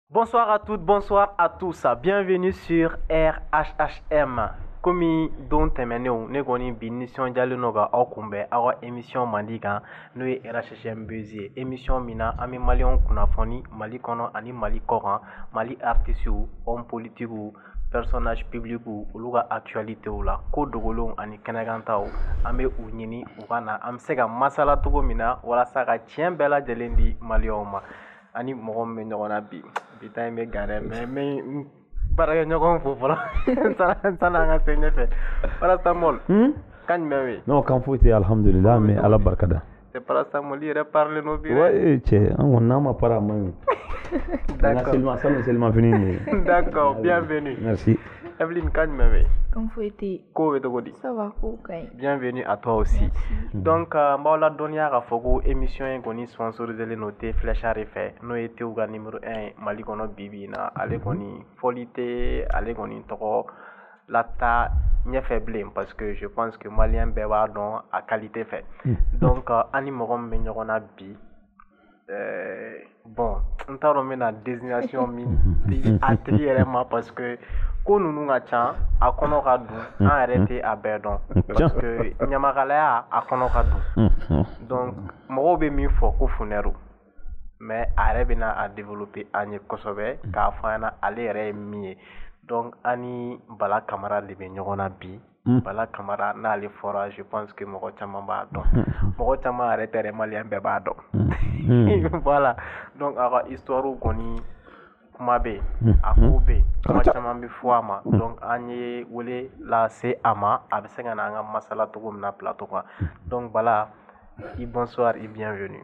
Bonsoir à toutes, bonsoir à tous. Bienvenue sur RHHM. Comme don tɛmɛnenw ne kɔni bi nisɔndiyalen don ka aw kunbɛn aw ka émission mandi kan n'o ye RHHM Buzz ye émission min na an bɛ maliyɛnw kunnafoni Mali kɔnɔ ani Mali kɔkan Mali artistes hommes politiques personnages publics olu ka actualité la ko dogolenw ani kɛnɛkantaw an bɛ u ɲini u ka na an bɛ se ka masala cogo min na walasa ka tiɲɛ bɛɛ lajɛlen di maliyɛnw ma an ni mɔgɔ min bɛ ɲɔgɔn na bi bi ta in bɛ gan dɛ mais n bɛ baarakɛɲɔgɔn fo fɔlɔ sanni an ka se ɲɛfɛ paracetamol hmm? kan jumɛn bɛ yen non kan foyi tɛ alihamudulila an bɛ ala barika da c'est paracetamol i yɛrɛ parilen don bi dɛ ee cɛ an kɔni n'an ma pari a man ɲi d'accord seliman sanu selimafini nin ye d'accord bienvenue merci Evelyne kan jumɛn bɛ yen kan foyi tɛ yen Ko bɛ cogo di? Ça va kow ka ɲi. Bienvenue à toi aussi. Merci. Donc n b'aw ladɔnniya k'a fɔ ko émission in kɔni sponsoriserlen don thé Flecha de fɛ n'o ye théw ka numéro 1 ye Mali kɔnɔ bi bi in na ale kɔni fɔli tɛ ale kɔni tɔgɔ lataa ɲɛfɛ bilen parce que je pense que maliyɛn bɛɛ b'a dɔn a qualité fɛ donc an ni mɔgɔ min bɛ ɲɔgɔn na bi Eh, bon n t'a dɔn n bɛna désignation min di a tigi yɛrɛ ma parce que ko ninnu ka ca a kɔnɔ ka dun an yɛrɛ tɛ a bɛɛ dɔn parce que ɲamakalaya a kɔnɔ ka dun donc mɔgɔw bɛ min fɔ ko funɛru mais a yɛrɛ bɛna a développer an ye kosɛbɛ k'a fɔ an ɲɛna ale yɛrɛ ye min ye donc an ni bala kamara de bɛ ɲɔgɔn na bi Mm. bala kamara n'ale fɔra je pense que mɔgɔ caman b'a dɔn mm. mɔgɔ caman yɛrɛ tɛ maliyɛn bɛɛ b'a dɔn mm. voilà donc a ka histoire kɔni kuma bɛ yen a ko bɛ yen kuma caman bɛ fɔ a ma donc an ye wele lase a ma a bɛ se ka na an ka masala cogo min na plateau kan donc bala i bonsoir i bienvenue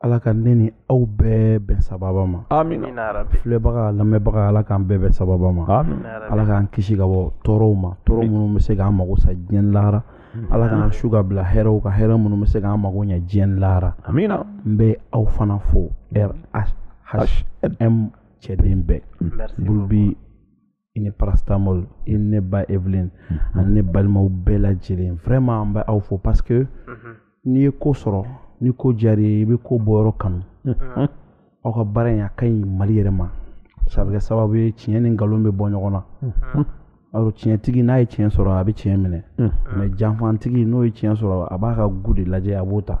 ala ka ne ni aw bɛɛ bɛn sababa ma filɛbaga lamɛnbaga ala k'an bɛɛ bɛn sababa ma ala k'an kisi ka bɔ tɔɔrɔw ma tɔɔrɔ minnu bɛ se k'an mago sa diɲɛ lahara hmm. ala k'an su ka bila hɛrɛw kan hɛrɛ minnu bɛ se k'an mago ɲɛ diɲɛ lahara n bɛ aw fana fo RHHM cɛden bɛɛ bulubi i ni paracetamol i ni ne ba Evelyne mm-hmm. ani ne balimaw bɛɛ lajɛlen vraiment an bɛ aw fo parce que mm-hmm. n'i ye ko sɔrɔ ni ko diyara i bɛ ko bɔyɔrɔ kanu mm-hmm. aw ka baara in a ka ɲi mali yɛrɛ ma a bɛ kɛ sababu ye tiɲɛ ni nkalon bɛ bɔ ɲɔgɔn na alors tiɲɛtigi n'a ye tiɲɛ sɔrɔ a bɛ tiɲɛ minɛ mais janfantigi n'o ye tiɲɛ sɔrɔ a b'a ka goût de lajɛ a b'o ta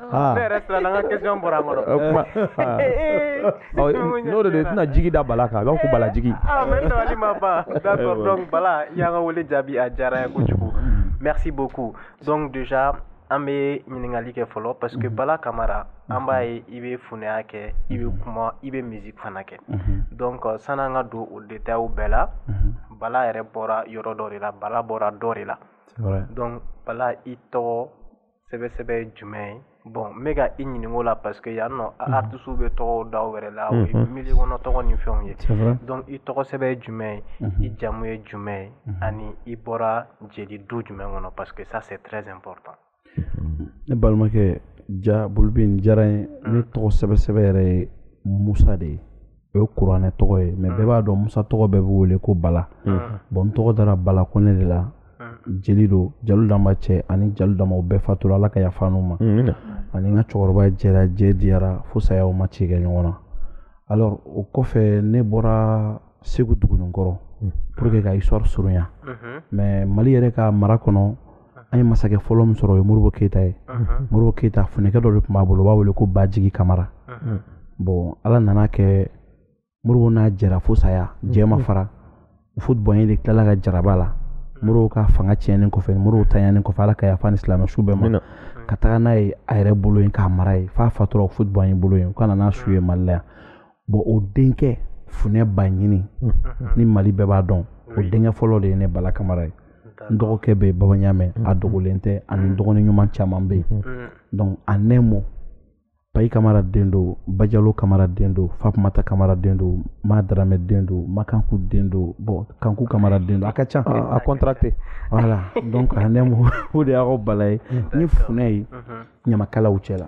Ah. Ne yɛrɛ siranna n ka question bɔra n kɔrɔ n'o de i tɛna jigi da bala kan b'a ko bala jigi ah, ma ban d'accord donc bala y'an ka wele jaabi a diyara n ye kojugu merci beaucoup donc déjà an bɛ ɲininkali kɛ fɔlɔ parce que mhm. bala kamara mhm. an b'a ye i bɛ funɛya kɛ i bɛ mhm. kuma i bɛ musique fana kɛ donc sani an ka don o détails bɛɛ la bala yɛrɛ bɔra yɔrɔ dɔ de la bala bɔra dɔ de la donc bala i tɔgɔ sɛbɛsɛbɛ ye jumɛn ye bon n bɛ ka i ɲininka o la parce que yan nɔ mhm. artisiw bɛ tɔgɔ da u yɛrɛ la o ye mhm. milieu kɔnɔ tɔgɔ ni fɛnw ye donc i tɔgɔ sɛbɛn ye jumɛn ye mhm. i jamu ye jumɛn ye ani i bɔra jeli du jumɛn kɔnɔ parce que ça c'est très important ne balimakɛ ja bolibin diyara n ye ne tɔgɔ sɛbɛsɛbɛ yɛrɛ ye musa de ye o ye kuranɛ tɔgɔ ye mais bɛɛ b'a dɔn musa tɔgɔ bɛɛ bɛ wele ko bala bon n tɔgɔ dara bala kɔnɛ de la jeli don jalu danba cɛ ani jalu danba o bɛɛ fatura ala ka yafa n'u ma ani n ka cɛkɔrɔba jɛra jɛ diyara fo saya u ma ci kɛ ɲɔgɔn na alors o kɔfɛ ne bɔra segu dugunikɔrɔ pour que ka histoire surunya mais mali yɛrɛ ka mara kɔnɔ an ye masakɛ fɔlɔ min sɔrɔ o ye modibo keyita ye modibo keyita funɛkɛ dɔ de tun b'a bolo u b'a wele ko bajigi kamara bon ala nan'a kɛ modibo n'a jɛra fo saya jɛ ma fara houphouët boigny de tilala ka jarabi a la modibo ka fanga tiɲɛnen kɔfɛ modibo taɲanen kɔfɛ ala ka yafa ni silamɛ su bɛɛ ma ka taga n'a ye a yɛrɛ bolo yen k'a mara ye f'a fatura houphouët boigny bolo yen u ka na n'a su ye mali la yan bon o denkɛ funɛ baɲini ni mali bɛɛ b'a dɔn o denkɛ fɔlɔ de ye ne bala kamara ye n dɔgɔkɛ bɛ baba ɲamɛ a dogolen tɛ ani dɔgɔnin ɲuman caman bɛ yen donc en un mot bayi kamara den don bajalo kamara den don fatumata kamara den don ma daramɛ den don makanku den don bon kanku kamara den don a ka ca a contracté voilà donc en un mot o de y'aw bala ye ni funɛ ye ɲamakalaw cɛ la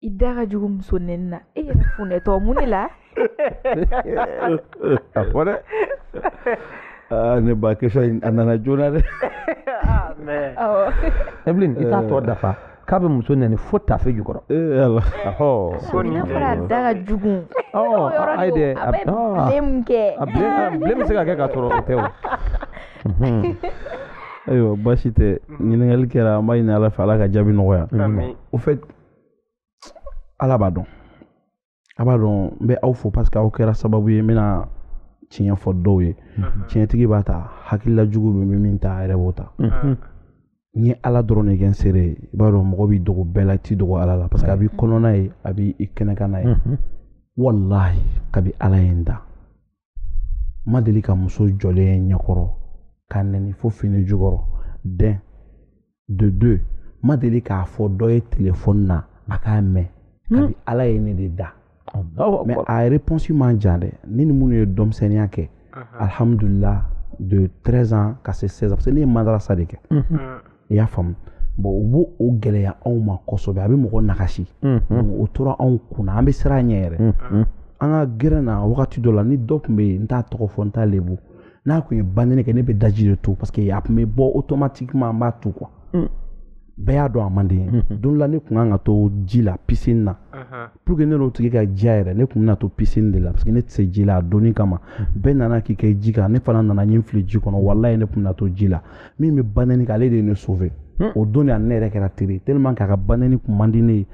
i da ka jugu muso nɛni na e yɛrɛ funɛtɔ mun ne la a fɔ dɛ aa ne ba question in a nana joona dɛ evelyn i t'a tɔ dafa k'a bɛ muso nɛni fo tafe jukɔrɔ ayi dɛ a bilen bɛ se ka kɛ k'a sɔrɔ o tɛ o ayiwa baasi tɛ ɲininkali kɛra an b'a ɲini ala fɛ ala ka jaabi nɔgɔya au fait ala b'a dɔn a b'a dɔn n bɛ aw fo parce que aw kɛra sababu ye n bɛna tiɲɛ fɔ dɔw ye tiɲɛtigi b'a ta hakilila jugu bɛ min ta a yɛrɛ b'o ta n ye ala dɔrɔn de kɛ n seere ye i b'a dɔn mɔgɔ b'i dogo bɛɛ la t'i dogo ala la parce que a b'i kɔnɔna ye a b'i kɛnɛkana ye walahi kabi ala ye n da n ma deli ka muso jɔlen ɲɛkɔrɔ k'a nɛni fo fini jukɔrɔ d'un de deux n ma deli k'a fɔ dɔ ye telefɔni na a k'a mɛn hmm. kabi ala ye ne de da mais a réponse man jan dɛ ne ni minnu ye denmisɛnninya kɛ alhamdulila de 13 ans ka se 16 ans parce que ne ye madarasa de kɛ i y'a faamu bon u b'o o gɛlɛya anw ma kosɛbɛ a bɛ mɔgɔ nagasi donc o tora anw kunna an bɛ siran a ɲɛ yɛrɛ an ka gɛrɛ na wagati dɔ la ni dɔ tun bɛ yen n t'a tɔgɔ fɔ n t'a lebu n'a tun ye banɛni kɛ ne bɛ daji de tu parce que a tun bɛ bɔ automatiquement an b'a tu quoi bɛɛ y'a dɔn a man di n ye don dɔ la ne tun kan ka to ji la piscine na pour que ne n'o tigi ka diya yɛrɛ ne tun bɛna to piscine de la parce que ne tɛ se ji la a donni kama bɛɛ nana k'i kɛ ji kan ne fana nana n fili ji kɔnɔ walayi ne tun bɛna to ji la min bɛ banɛni kɛ ale de ye ne sauver hmm. o don de an yɛrɛ kɛra teri tellement qu'a ka banɛni tun man di ne ye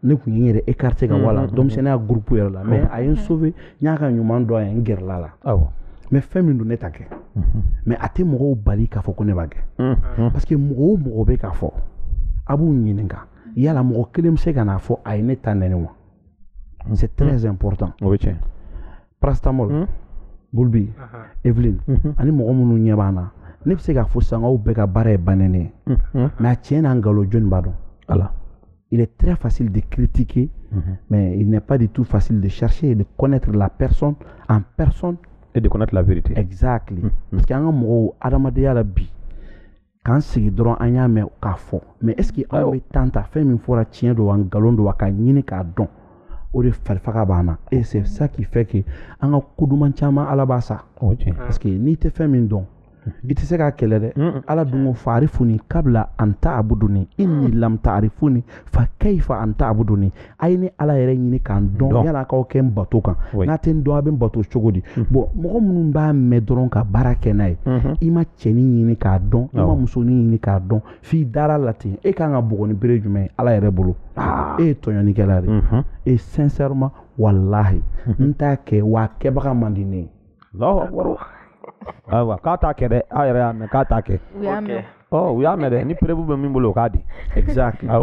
ne tun ye n yɛrɛ écarté ka bɔ a la denmisɛnninya groupe yɛrɛ la mais a ye n sauver n y'a ka ɲuman dɔn a ye n gɛrɛla a la mais fɛn min don ne t'a kɛ mais a tɛ mɔgɔw bali k'a fɔ ko ne b'a kɛ parce que mɔgɔ o mɔgɔ bɛ k'a fɔ a b'u ɲininka yala mɔgɔ kelen bɛ se ka n'a fɔ a ye ne ta nɛni wa c'est très hmm. important o bɛ tiɲɛ paracetamol hmm. bulbi evelyn hmm. ani mɔgɔ minnu ɲɛ b'an na ne bɛ se k'a fɔ sisan k'aw bɛɛ ka baara ye banɛni ye mais a tiɲɛ n'a nkalon jɔni b'a dɔn ala il est très facile de critiquer mais il n'est pas du tout facile de chercher et de connaître la personne en personne et de connaître la vérité exact parce que an ka mɔgɔw adamadenya la bi k'an sigi dɔrɔn an y'a mɛn k'a fɔ mais est-ce que aw bɛ temps ta fɛn min fɔra tiɲɛ don wa nkalon don wa k'a ɲini k'a dɔn o de farifaga b'an na et c'est ça qui fait que an ka ko duman caman ala b'a sa parce que n'i tɛ fɛn min dɔn i tɛ se k'a kɛlɛ dɛ ala dun ko faarifuni kabla an ta abuduni inni lam taarifuni fa kayifa an ta abuduni a ye ne ala yɛrɛ ɲini ka n dɔn yala k'aw kɛ n bato kan n'a tɛ n dɔn a bɛ n bato cogo di mhm. bon mɔgɔ minnu b'a mɛn dɔrɔn ka baara kɛ n'a ye mhm. i ma cɛnin ɲini k'a dɔn i ma musonin ɲini k'a dɔn f'i dara a la ten e kan ka bugɔ ni bere jumɛn ye ala yɛrɛ bolo ah. e ye tɔɲɔnikɛla de mhm. et sincèrement walahi n t'a kɛ w'a kɛbaga man di ne ye ayiwa k'a t'a kɛ dɛ aw yɛrɛ y'a mɛn k'a t'a kɛ u y'a mɛn oh, u y'a mɛn dɛ ni preuve bɛ min bolo o k'a di exact ah,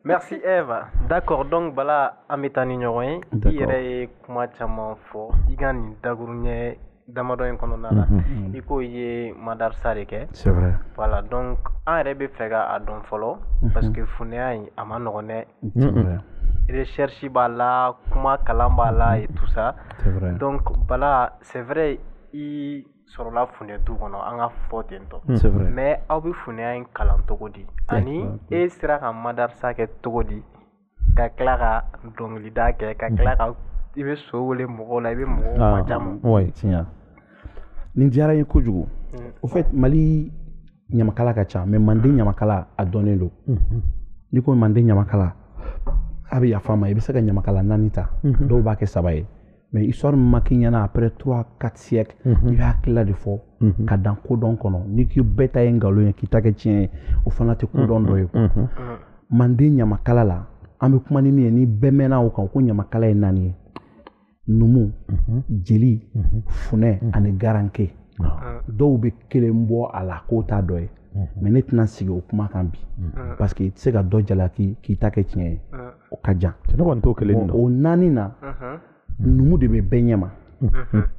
merci Eva d'accord donc bala an bɛ taa ni ɲɔgɔn ye i yɛrɛ ye kuma caman fɔ i ka nin dakuruɲɛ damadɔ in kɔnɔna la mhm, mhm. i ko i ye madarasa de kɛ c'est vrai voilà donc an yɛrɛ b'a fɛ k'a dɔn fɔlɔ mhm. parce que funɛya in a man nɔgɔn dɛ recherche b'a la kuma kalan b'a la et tout ça donc bala c'est vrai i sɔrɔla funɛ du kɔnɔ an k'a fɔ ten tɔ mais aw bɛ funɛya in kalan cogo di ani e sera ka madarasa kɛ cogo di ka tila ka dɔnkilida kɛ ka tila ka i bɛ so wele mɔgɔw la i bɛ mɔgɔw majamu nin diyara n ye kojugu au fait mali ɲamakala ka ca mais manden ɲamakala a dɔnnen don mhm. n'i ko manden ɲamakala a bɛ yafa n ma i bɛ se ka ɲamakala naani ta mhm. dɔw b'a kɛ saba ye mais histoire min ma k'i ɲɛna après trois quatre siècles mhm. i bɛ hakilila de fɔ ka dan kodɔn kɔnɔ n'i ko bɛɛ ta ye nkalon ye k'i ta kɛ tiɲɛ ye o fana tɛ kodɔn dɔ ye manden ɲamakala la an bɛ kuma ni min ye ni bɛɛ bɛnna o kan ko ɲamakala ye naani ye numu jeli funɛ ani garanke dɔw bɛ kelen bɔ a la k'o t'a dɔ ye mais ne tɛna sigi o kuma kan bi parce que i tɛ se ka dɔ jalaki k'i ta kɛ tiɲɛ ye o ka jan o naani na numu de bɛ bɛɛ ɲɛma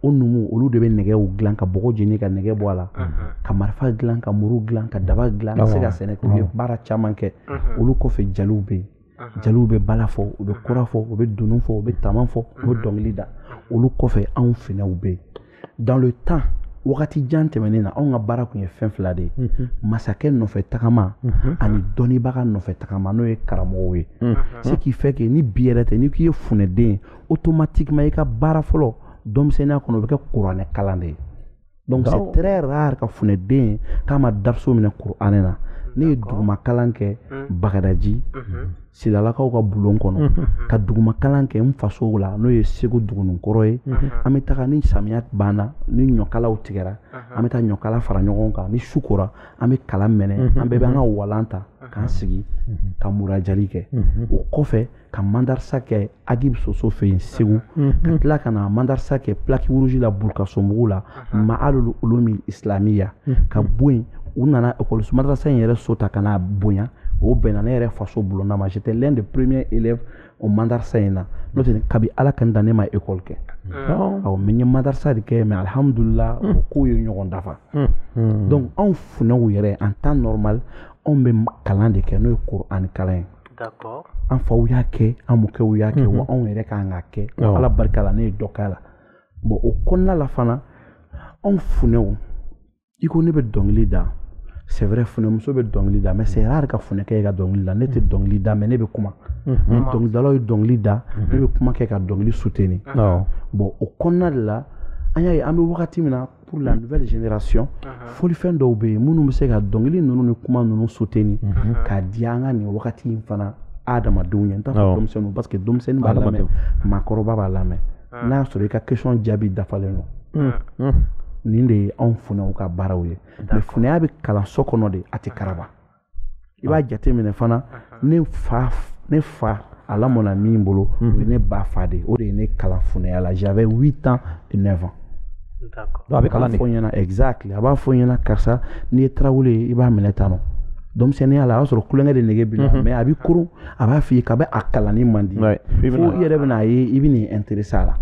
o numu olu de bɛ nɛgɛw dilan ka bɔgɔ jeni ka nɛgɛ bɔ a la ka marifa dilan ka muru dilan ka daba dilan ka se ka sɛnɛ k'u ye baara caman kɛ olu kɔfɛ jeliw bɛ yen jeliw bɛ bala fɔ u bɛ kɔra fɔ u bɛ dunun fɔ u bɛ tama fɔ u bɛ dɔnkili da olu kɔfɛ anw finɛw bɛ yen dans le temps wagati jan tɛmɛnen na anw ka baara tun ye fɛn fila de ye masakɛ nɔfɛ tagama ani dɔnnibaga nɔfɛ tagama n'o ye karamɔgɔw ye ce qui fait que ni bi yɛrɛ tɛ n'i k'i ye funɛden ye automatiquement i ka baara fɔlɔ denmisɛnninya kɔnɔ o bɛ kɛ kuranɛ kalan de ye donc c'est très rare ka funɛden ye k'a ma dariso minɛ kuranɛ na ne ye duguma kalan kɛ hmm. bagadaji hmm. silalakaw ka bulon kɔnɔ hmm. ka duguma kalan kɛ n fasow la n'o ye segu dugunikɔrɔ ye an bɛ taga ni samiya banna ni ɲɔkalaw tigɛra an bɛ taa ɲɔkala fara ɲɔgɔn kan ni su kora an bɛ kala mɛnɛ an bɛɛ bɛ an ka walan ta k'an sigi ka murajali kɛ o kɔfɛ ka mandarisa kɛ agibu soso fɛ yen segu ka tila ka na mandarisa kɛ plaque rouge la burukasonbugu la ma'alul ulumi islamiya ka bɔ yen u nana ekɔliso madarasa in yɛrɛ so ta ka n'a bonya o bɛnna ne yɛrɛ faso bulonda ma j'étais l'un des premiers élèves o madarasa in na n'o tɛ kabi ala ka n dan ne ma école kɛ awɔ mais n ye madarasa de kɛ mais alhamdulila o kow ye ɲɔgɔn dafa donc anw funɛw yɛrɛ en temps normal anw bɛ kalan de kɛ n'o ye Kur'an kalan ye an faw y'a kɛ an mɔkɛw y'a kɛ wa mhm. anw yɛrɛ ka kan k'a kɛ ala barika la ne ye dɔ k'a la bon o kɔnɔna la fana anw funɛw i ko ne bɛ dɔnkili da c'est vrai funɛmuso bɛ dɔnkili da mais c'est rare ka funɛkɛ ka dɔnkili da ne tɛ dɔnkili da mais ne bɛ kuma ni mhm. dɔnkilidalaw ye dɔnkili da ne mhm. bɛ kuma kɛ ka dɔnkili soutenir bon o kɔnɔna de la an y'a ye an bɛ wagati min na pour la nouvelle génération folifɛn dɔw bɛ yen minnu bɛ se ka dɔnkili ninnu ni kuma ninnu soutenir k'a diya an ka nin wagati in fana adamadenw ye n t'a fɔ denmisɛnninw parce que denmisɛnnin b'a lamɛn maakɔrɔba b'a lamɛn n'a y'a sɔrɔ i ka question jaabi dafalen don nin de ye anw funɛw ka baaraw ye mais funɛya bɛ kalan so kɔnɔ de a tɛ karaba i b'a jateminɛ fana ne fa ne fa a lamɔna min bolo o ye ne ba fa de o de ye ne kalan funɛya la j'avais 8 ans et 9 ans a bɛ kalan de fɔ ɲɛna exactly a b'a fɔ ɲɛna karisa n'i ye tarawele ye i b'a minɛ tan nɔ denmisɛnninya la a y'a sɔrɔ tulonkɛ de nege b'i la mais a b'i koron a b'a f'i ye k'a bɛ a kalanni man di fo i yɛrɛ bɛna a ye i bɛ n'i intéresser a la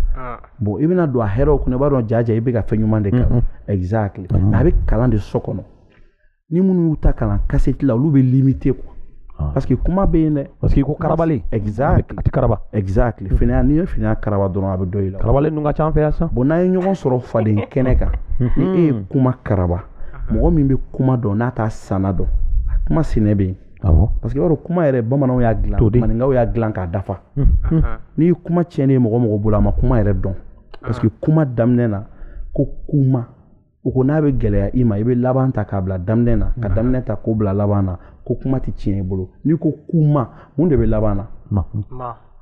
bon i bɛna don a hɛrɛw kɔnɔ i b'a dɔn jaa i bɛ ka fɛn ɲuman de kalan exactly mais a bɛ kalan de so kɔnɔ ni minnu y'u ta kalan kasɛti la olu bɛ limité quoi ah. parce que kuma bɛ yen dɛ parce que ko karabalen exact a tɛ karaba exact mm-hmm. funɛya n'i ye funɛya karaba dɔrɔn a bɛ dɔn i la karabalen ninnu ka ca an fɛ yan sisan bon n'an ye ɲɔgɔn sɔrɔ faden kɛnɛ kan ni e ye kuma karaba mɔgɔ min bɛ kuma dɔn n'a t'a sanna dɔn a kuma sinɛ bɛ yen awɔ parce que i b'a dɔn kuma yɛrɛ bamananw y'a dilan maninkaw y'a dilan k'a dafa n'i ye kuma tiɲɛnen ye mɔgɔ mɔgɔ bolo a ma kuma yɛrɛ dɔn parce que kuma daminɛ na ko kuma u ko n'a bɛ gɛlɛya i ma i bɛ laban ta k'a bila daminɛ na ka daminɛ ta k'o bila laban na ko kuma tɛ tiɲɛ i bolo n'i ko kuma mun de bɛ laban na ma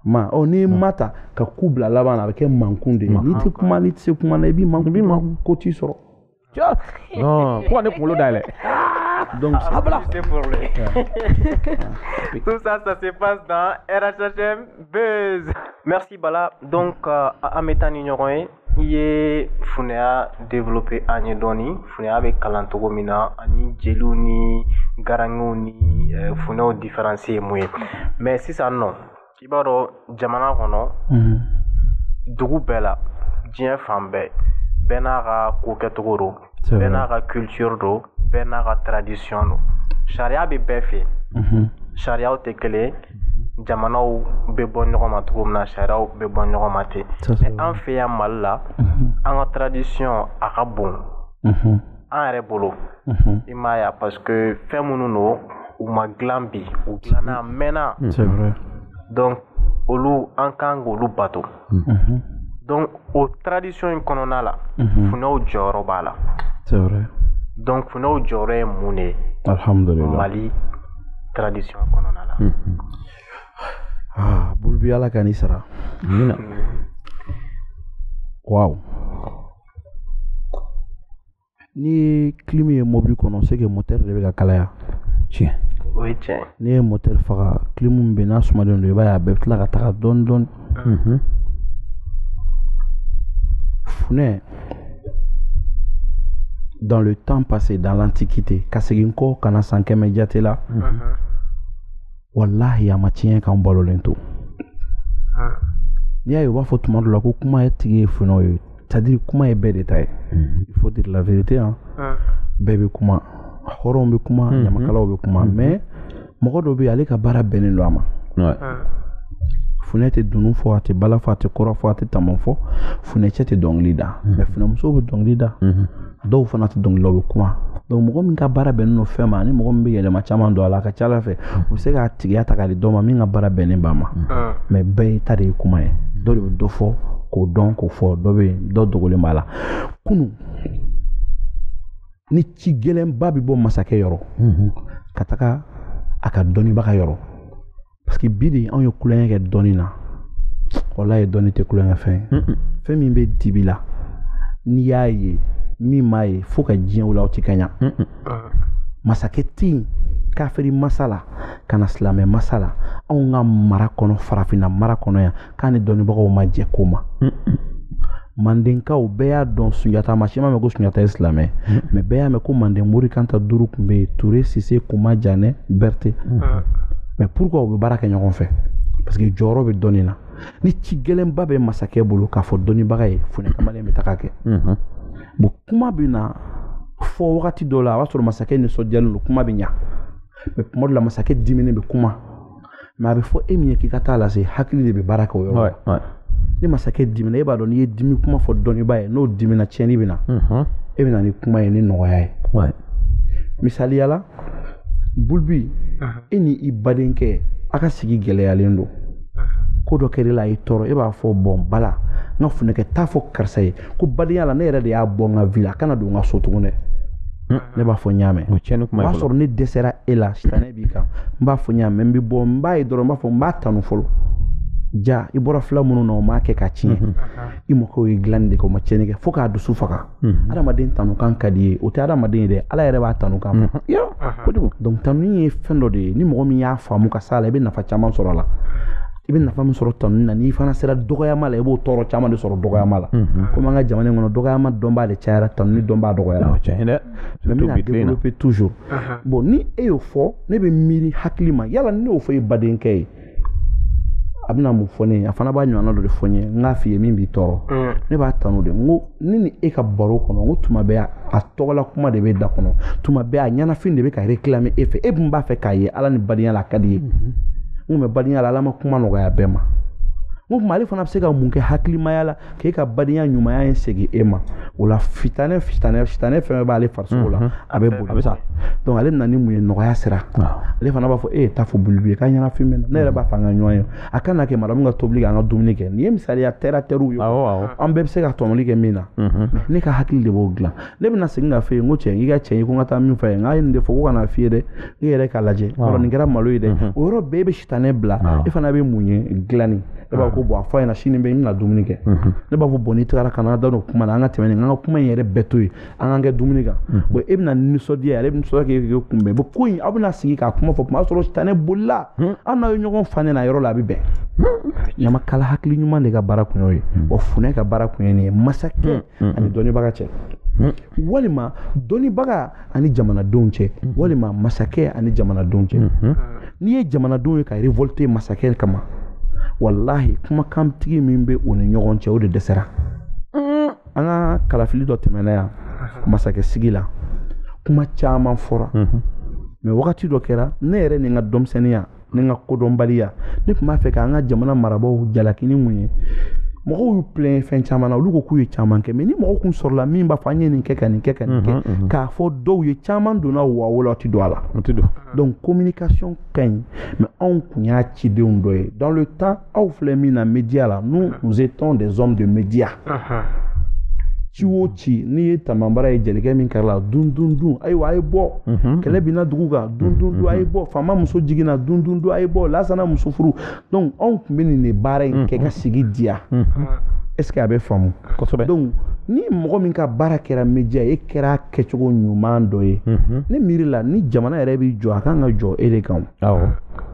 ma ɔ n'i ye ma ta ka ku bila laban na a bɛ kɛ mankun de ye n'i tɛ kuma n'i tɛ se kuma na i b'i mankun b'i mankun ko t'i sɔrɔ fo ka ne kunkolo dayɛlɛ Donc, ah, voilà. C'est pour lui. Tout ça, ça se passe dans RHHM Buzz. Merci Bala. Donc, euh, an bɛ taa ni ɲɔgɔn, i ye funɛya développer an ye dɔɔni funɛya bɛ kalan cogo min na ani jeliw ni garangew ni eh, funɛw différence ye mun ye mais sisan nɔ i b'a dɔn jamana kɔnɔ dugu bɛɛ la diɲɛ fan bɛɛ bɛɛ n'a ka ko kɛcogo don bɛɛ n'a ka culture don bɛɛ n'a ka tradition don sariya bɛ bɛɛ fɛ sariyaw tɛ kelen jamanaw bɛ bɔ ɲɔgɔn ma cogo min na sariyaw bɛ bɔ ɲɔgɔn ma ten mais an fɛ yan mali la an ka tradition a ka bon an yɛrɛ bolo i m'a ye parce que fɛn minnu don u ma dilan bi u dilanna a mɛnna donc olu an kan k'olu bato donc o tradition in kɔnɔna la funɛw jɔyɔrɔ b'a la donc funɛw jɔyɔrɔ ye mun de ye mali tradition kɔnɔna la ah, bolo bɛ ala ka ni sara amiina waaw n'i ye kilimi ye mobili kɔnɔ c'est que motɛri de bɛ ka kalaya tiɲɛ o ye tiɲɛ n'i ye motɛri faga kilimi bɛ n'a sumalen don i b'a ye a bɛ tila ka taga dɔɔni dɔɔni mhm. funɛ dans le temps passé dans l'antiquité ka segin kɔ ka na san kɛmɛ jate la mhm. walahi a ma tiɲɛ k'an balolen to ah. n'i y'a ye u b'a fɔ tuma dɔ la ko kuma in tigi ye funɛw ye c'est-à-dire kuma ye bɛɛ de ta ye mhm. il faut dire la vérité hein ah. bɛɛ bɛ kuma hɔrɔnw bɛ kuma mhm. ɲamakalaw bɛ kuma mhm. mais mɔgɔ dɔ bɛ ale ka baara bɛnnen don a ma ah. funɛ tɛ dunun fɔ a tɛ bala fɔ a tɛ kora fɔ a tɛ taman fɔ funɛcɛ tɛ dɔnkili da mais funɛmuso bɛ dɔnkili da dɔw fana tɛ dɔnkili da u bɛ kuma donc mɔgɔ min ka baara bɛnnen don fɛn ma ani mɔgɔ min bɛ yɛlɛma caman don a la a ka ca a la fɛ u bɛ se k'a tigiya ta k'a di dɔ ma min ka baara bɛnnen b'a ma ah. mais bɛɛ ta de ye kuma ye dɔ de bɛ dɔ fɔ k'o dɔn k'o fɔ dɔ bɛ yen dɔ dogolen b'a la kunu ni ci gɛlɛnba bɛ bɔ masakɛ yɔrɔ ka taga a ka dɔnnibaga yɔrɔ parce que bi de anw ye tulonkɛ kɛ dɔnni na walahi dɔnni tɛ tulonkɛfɛn ye fɛn min bɛ dibi la n'i y'a ye min m'a ye fo ka diɲɛ wuli aw ti kanya masakɛ tɛ yen kafiri masa la ka na silamɛ masa la anw ka mara kɔnɔ farafinna mara kɔnɔ yan k'a ni dɔnnibagaw ma jɛ ko ma mandenkaw bɛɛ y'a dɔn sunjata maa si m'a mɛn ko sunjata ye silamɛ mais bɛɛ y'a mɛn ko manden mori kanta duuru tun bɛ yen ture sise koma janɛ berete mais pourquoi u bɛ baara kɛ ɲɔgɔn fɛ parce que jɔyɔrɔ bɛ dɔnni na ni ci gɛlɛnba bɛ masakɛ bolo k'a fɔ dɔnnibaga ye funɛ kamalen bɛ taga kɛ bon kuma bɛ na fɔ wagati dɔ la a b'a sɔrɔ masakɛ nisɔndiyalen don kuma bɛ ɲa mais tuma dɔ la masakɛ diminen bɛ kuma mais a bɛ fɔ e min ye k'i ka taa a lase hakili de bɛ baara kɛ o yɔrɔ la ni masakɛ dimina e b'a dɔn n'i ye dimi kuma fɔ dɔnnibaa ye n'o dimina tiɲɛni bɛ na mhm. e bɛ na ni kuma ye ni nɔgɔya ye misaliya la bulubi e ni i badenkɛ a ka sigi gɛlɛyalen don ko dɔ kɛra la a y'i tɔɔrɔ e b'a fɔ bon bala n ka funɛkɛ taa a fɔ karisa ye ko badenya la ne yɛrɛ de y'a bɔ n ka vie la a kana don n ka so tugun dɛ ne b'a fɔ n y'a mɛn o y'a sɔrɔ ne dɛsɛra e la bi kan n b'a fɔ n y'a mɛn n bɛ bɔ n b'a ye dɔrɔn n b'a fɔ n b'a tanu fɔlɔ ja i bɔra fila minnu na o m'a kɛ ka tiɲɛ mhm. i mɔkɛw ye dilanni de kɛ o ma tiɲɛni kɛ fo k'a dusu faga mhm. adamaden tanukan ka di a ye o tɛ adamaden ye dɛ ala yɛrɛ b'a tanukan fɛ mhm. kojugu donc tanuni ye fɛn dɔ de ye ni mɔgɔ min y'a faamu ka s'a la i bɛ nafa caman sɔrɔ a la i bɛ nafa min sɔrɔ tanuni na n'i fana sera dɔgɔyama la i b'o tɔɔrɔ caman de sɔrɔ dɔgɔyama la komi an ka jamana in kɔnɔ dɔgɔyama dɔnbaa de cayara tanuni dɔnbaa dɔgɔyara mais n bɛna développer toujours bon ni e y'o fɔ ne bɛ miiri hakilimaya la ne y'o fɔ e badenkɛ ye a bɛna mun fɔ ne ye a fana b'a ɲɔgɔnna dɔ de fɔ n ye n k'a f'i ye min b'i tɔɔrɔ mm. ne b'a tanu de n ko ne ni e ka baro kɔnɔ n ko tuma bɛɛ a tɔgɔla kuma de bɛ da kɔnɔ tuma bɛɛ a ɲɛnafin de bɛ ka réclamer e fɛ e dun b'a fɛ k'a ye ala ni badenya la a ka d'i ye mm-hmm. n ko mais badenya la ala ma kuma nɔgɔya bɛɛ ma n ko mais ale fana bɛ se ka mun kɛ hakilimaya la k'e ka badenya ɲumanya in segin e ma o la sitanɛ sitanɛ fɛn fɛn b'ale farisogo la a bɛ boli sa donc ale nana ni mun ye nɔgɔya sira ale fana b'a fɔ e ye ta fɔ bulubu ye k'a ɲɛnafin bɛ n na ne yɛrɛ b'a fɛ an ka ɲɔgɔn ye a ka na kɛ madamu ka tobili kɛ an ka dumuni kɛ nin ye misaliya terre à terre ye an bɛɛ bɛ se ka tɔmɔli kɛ min na ne ka hakili de b'o dilan ne bɛna segin k'a f'i ye n ko cɛ n k'i ka cɛ ye ko n ka taa min f'a ye n k'a ye nin de fɔ ko kana f'i ye dɛ ne yɛrɛ k'a lajɛ yɔrɔ nin kɛra malo ye dɛ o yɔrɔ bɛɛ bɛ sitanɛ bila e fana bɛ mun ye dilanni ne b'a ko bon a fɔ ɲɛna sini bɛ n bɛna dumuni kɛ ne b'a fɔ bon n'i tagara kana da don kuma na an ka tɛmɛ nin an ka kuma in yɛrɛ bɛɛ to yen an k'an kɛ dumuni kan bon e bɛna nisɔndiya ale bɛ nisɔndiya k'e k'e kunbɛn bon ko in aw bɛna sigi k'a kuma fɔ kuma y'a sɔrɔ sitanɛ bolila an n'aw ye ɲɔgɔn fa ne na yɔrɔ la a bɛ bɛn ɲamakala hakili ɲuman de ka baara kun y'o ye wa funɛ ka baara kun ye nin ye masakɛ ani dɔnnibaga cɛ walima dɔnnibaga ani jamanadenw cɛ walima masakɛ ani jamanadenw cɛ n'i ye jamanadenw ye ka révolter masakɛ kama walahi kumakantigi min bɛ u ni ɲɔgɔn cɛ o de dɛsɛra an ka kalafili dɔ tɛmɛna yan masakɛ sigi la kuma caman fɔra mais wagati dɔ kɛra ne yɛrɛ ni n ka denmisɛnninya ni n ka kodɔnbaliya ne tun b'a fɛ k'an ka jamana marabaaw jalaki ni mun ye mɔgɔw y'u plɛn fɛn caman na olu ko k'u ye caman kɛ mais ni mɔgɔ kun sɔrɔla min b'a fɔ an ye nin kɛ ka nin kɛ ka nin kɛ k'a fɔ dɔw ye caman donna wɔyɔ la tɛ don a la donc communication ka ɲi mais anw kun y'a cidenw dɔ ye dans le temps aw filɛ min na média la nous nous étions des hommes de média ci o ci n'i ye tamanbara ye jelikɛ min kɛrɛ la dun dun dun ayiwa a ye bɔ mhm. kɛlɛ binna dugu kan dun dun dun a ye mhm. bɔ faama muso jiginna dun dun dun a ye bɔ lasana muso furu donc anw tun bɛ nin de baara in kɛ ka mhm. sigi diya est ce que a bɛ faamu donc ni mɔgɔ min ka baara kɛra média ye e kɛra kɛcogo ɲuman dɔ ye ne miiri la ni jamana yɛrɛ bɛ jɔ a kan ka jɔ e de kan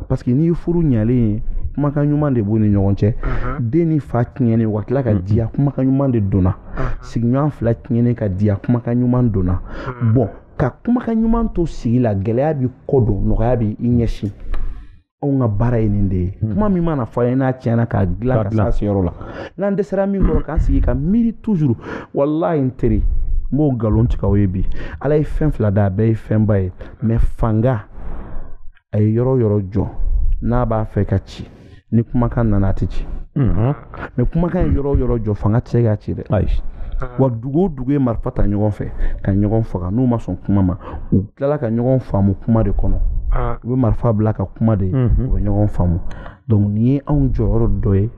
parce que n'i ye furu ɲalen ye kumakan ɲuman de b'u ni ɲɔgɔn cɛ den ni fa tiɲɛnen ka tila ka diya kumakan ɲuman de donna sigiɲɔgɔn fila tiɲɛnen ka diya kumakan ɲuman donna bon ka kumakan ɲuman to sigi la gɛlɛya b'i kɔ don nɔgɔya bɛ i ɲɛsin anw ka baara ye nin de ye hmm. kuma min mana fɔ a ye n'a tiɲɛna k'a dilan ka s'a seyɔrɔ la n'an dɛsɛra min kɔrɔ k'an sigi ka miiri toujours walahi n teri n b'o nkalon tigɛ aw ye bi ala ye fɛn fila da a bɛɛ ye fɛnba ye mais fanga a ye yɔrɔ yɔrɔ jɔ n'a b'a fɛ ka ci ni kumakan nana a tɛ ci hmm. mais kumakan ye yɔrɔ o yɔrɔ jɔ fanga tɛ se k'a ci dɛ wa dugu o dugu ye marifa ta ɲɔgɔn fɛ ka ɲɔgɔn faga n'u ma sɔn kuma ma u tilala ka ɲɔgɔn faamu kuma de kɔnɔ ah. u bɛ marifa bila ka kuma de mhm. u bɛ ɲɔgɔn faamu donc nin ye anw jɔyɔrɔ dɔ ye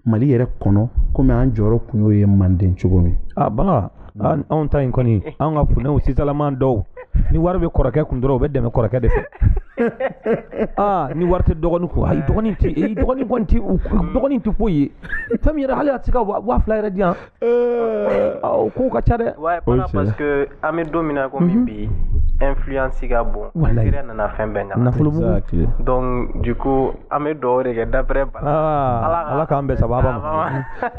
mali yɛrɛ kɔnɔ komi an jɔyɔrɔ kun y'o ye manden cogo min ah, Anw ta in kɔni an ka funɛw sisanlama dɔw ni wari bɛ kɔrɔkɛ kun dɔrɔn u bɛ dɛmɛ kɔrɔkɛ de fɛ aa ni wari tɛ dɔgɔnin kun ayi dɔgɔnin tɛ e dɔgɔnin tɛ dɔgɔnin tɛ foyi ye fɛn min yɛrɛ hali a tɛ se ka waa fila yɛrɛ di yan kow ka ca dɛ parce que an bɛ don min na komi bi influence ka bon yɛrɛ nana fɛn bɛɛ nafolo ko an bɛ dɔw de kɛ d'après bala ah, ala k'an bɛ saba ma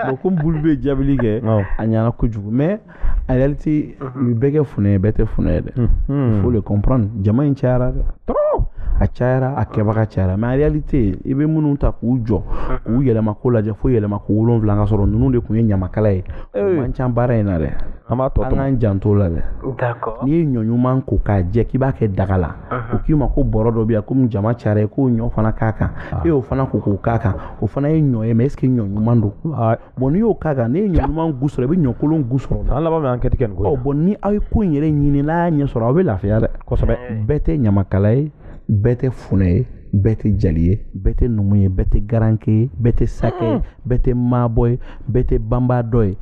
bon komi bulu bɛ jaabili kɛ a ɲɛna kojugu mais en réalité mhm. bɛɛ tɛ funɛ ye bɛɛ tɛ funɛ ye dɛ mhm. faut le comprendre jama in cayara dɛ trop a cayara a kɛbaga cayara mais en réalité i bɛ minnu ta k'u jɔ mhm. k'u yɛlɛma ko lajɛ fo yɛlɛma ko wolonwula ka sɔrɔ ninnu de tun ye ɲamakala ye o man ca baara in na dɛ an b'a tɔ an k'an janto la dɛ n'i ye ɲɔ ɲuman ko k'a jɛ k'i b'a kɛ daga la o k'i ma ko bɔrɔ dɔ bɛ yan komi jama cayara e k'o ɲɔ fana k'a kan e y'o fana ko k'o k'a kan o fana ye ɲɔ ye mais est-ce que ɲɔ ɲuman don bon n'i y'o k'a kan n'i ye ɲɔ ɲuman gu sɔrɔ i bɛ ɲɔ kolon gu sɔrɔ an laban bɛ enquête kɛ nin ko ɔ bon ni aw ye ko in yɛrɛ ɲini n'a y'a ɲɛ sɔrɔ aw bɛ lafiya dɛ kosɛbɛ bɛɛ tɛ ɲamakala ye bɛɛ tɛ funɛ ye bɛɛ tɛ jali ye bɛɛ tɛ numu ye bɛɛ tɛ garanke ye bɛɛ tɛ sakɛ ye bɛɛ tɛ maabɔ ye bɛɛ tɛ banbadɔ ye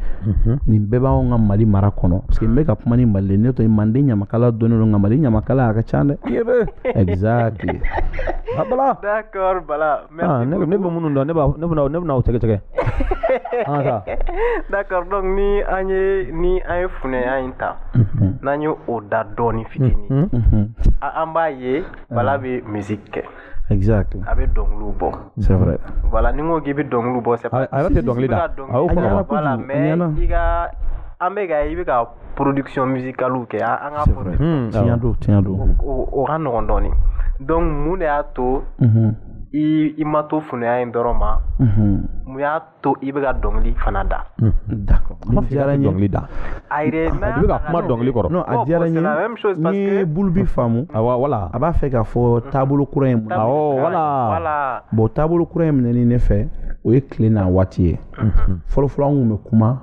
nin bɛɛ b'anw ka mali mara kɔnɔ parce que n bɛ ka kuma ni mali ne to manden ɲamakala dɔnnen don nka mali ɲamakala a ka ca dɛ exactly bala d'accord bala ah, ne bɛ minnu dɔn ne b'a ne bɛna ne bɛna o tɛgɛ tɛgɛ ah, d'accord donc ni an ye ni an ye funɛya in ta n'an ye o da dɔɔni fitini an b'a ye bala bɛ musique kɛ exact a bɛ dɔnkiliw bɔ c'est vrai voilà ni n ko k'i bɛ dɔnkiliw bɔ c'est pas a yɛrɛ tɛ dɔnkili da a y'o fɔ voilà mais i ka an bɛ ka i bɛ ka production musicale kɛ an ka fɔ hmm, tiɲɛ don tiɲɛ don o ka nɔgɔn dɔɔnin donc mun de y'a to i i ma to funɛya in dɔrɔn ma mun y'a to i bɛ ka dɔnkili fana da hmm. dɔnkili da a bɛ ka kuma dɔnkili kɔrɔ a diyara n ye n'i ye bulu bi faamu wala a b'a fɛ k'a fɔ taabolo kura in voilà bon taabolo kura in minɛni ne fɛ o ye tile n'a waati ye fɔlɔfɔlɔ an tun bɛ kuma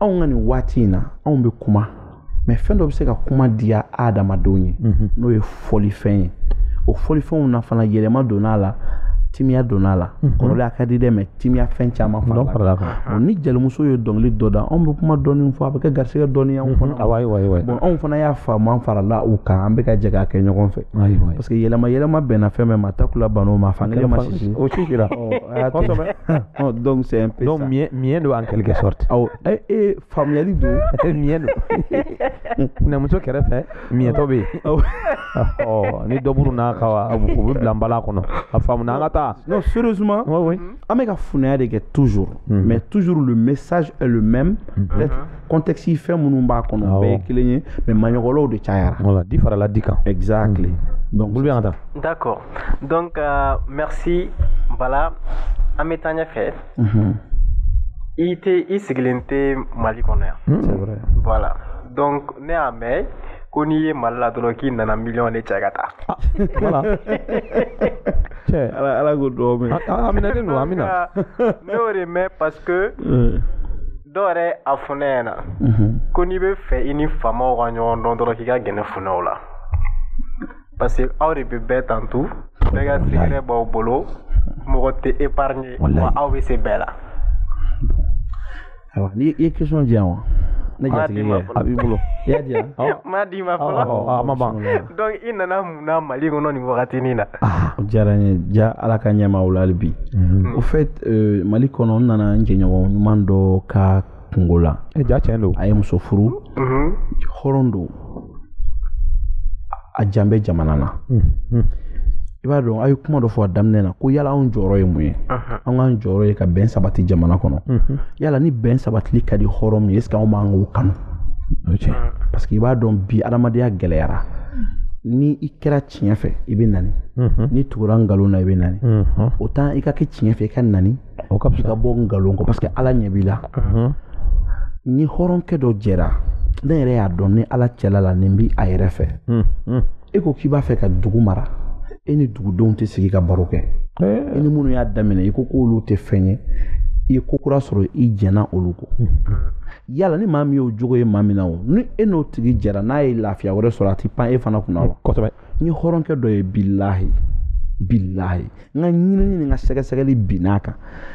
anw ka nin waati in na anw bɛ kuma mais fɛn dɔ bɛ se ka kuma diya adamadenw ye mhm. n'o ye fɔlifɛn ye o fɔlifɛnw na fana yɛlɛma donna a la timiya donna a la mhm. kɔrɔlen a ka di dɛ mais timiya fɛn caman farala ni jelimuso ye dɔnkili dɔ da anw bɛ kuma dɔɔni fɔ a bɛ kɛ garisigɛ dɔɔni anw mhm. fana bon anw fana y'a faamu an farala u kan an bɛ ka jɛ k'a kɛ ɲɔgɔn fɛ parce que yɛlɛma yɛlɛma bɛnna fɛn bɛɛ ma takula ban'o ma fan kelen ma sisi o sisira Ɔ donc c'est un peu donc ça donc miɲɛ don en quelque sorte awɔ e e faamuyali don miɲɛ don funɛmuso kɛrɛfɛ miɲɛtɔ bɛ yen ɔ ni dɔ burunn'a kan o bɛ bila nbala kɔnɔ a faamuna an ka taa non sérieusement oui oui an bɛ ka funɛya de kɛ toujours mm-hmm. mais toujours le message est le même mm-hmm. peut-être contexte fɛn minnu b'a kɔnɔ o bɛɛ ye kelen ye mais maɲɔgɔnlaw de cayara voilà di farala di kan exactly mm-hmm. donc olu bɛ yan an ka taa d'accord donc euh, merci bala an bɛ taa ɲɛfɛ i tɛ i sigilen tɛ mali kɔnɔ yan voilà donc ne y'a mɛn ko n'i ye mali la dɔrɔn k'i nana miliyɔn de cɛ ka taa ala ko dɔw bɛ a minɛlen don amiina ne y'o de mɛn parce que dɔw yɛrɛ y'a fɔ ne ɲɛna ko n'i b'a fɛ i ni faamaw ka ɲɔgɔn dɔn dɔrɔn k'i ka gɛrɛ funɛw la parce que aw de bɛ bɛɛ tantu bɛɛ ka secret b'aw bolo mɔgɔ tɛ épargné wa aw bɛ se bɛɛ la. ayiwa ni i ye question di yan wa. ne jatigi ye a b'i bolo i y'a di yan. n m'a d'i ma fɔlɔ a ma ban. donc i nana mun na mali kɔnɔ nin wagatinin na. Ah, o diyara n ye ja ala ka ɲɛmaaw la hali bi. au fait euh, mali kɔnɔ n nana n jɛɲɔgɔn ɲuman dɔ ka. kunko la e ja tiɲɛ don a ye muso furu hɔrɔn don a jan bɛ jamana na i b'a dɔn a ye kuma dɔ fɔ a daminɛ na ko yala anw jɔyɔrɔ ye mun ye an k'an jɔyɔrɔ ye ka bɛn sabati jamana kɔnɔ yala ni bɛn sabatili ka di hɔrɔn min ye est ce que anw bɛ ban k'o kanu parce que i b'a dɔn bi adamadenya gɛlɛyara ni i kɛra tiɲɛ fɛ i bɛ nani n'i tugura nkalon na i bɛ nani autant i ka kɛ tiɲɛ fɛ i ka nani o ka fisa bɔ nkalon kɔ parce que ala ɲɛ b'i la n ni hɔrɔnkɛ dɔ jɛra ne yɛrɛ y'a dɔn n ni ala cɛla laɲini bi a yɛrɛ fɛ e ko k'i b'a fɛ ka dugu mara e ni dugudenw tɛ sigi ka baro kɛ eh. e ni minnu y'a daminɛ i ko k'olu tɛ fɛn ye i ye ko kura sɔrɔ i jɛnna olu kɔ yala ni maa min y'o jogo ye maa min na o ni e n'o tigi jɛra n'a ye lafiya wɛrɛ sɔrɔ a tɛ pan e fana kunna wa n ye hɔrɔnkɛ dɔ ye bilahi bilahi n ka ɲinini ni n ka sɛgɛsɛgɛli binn'a kan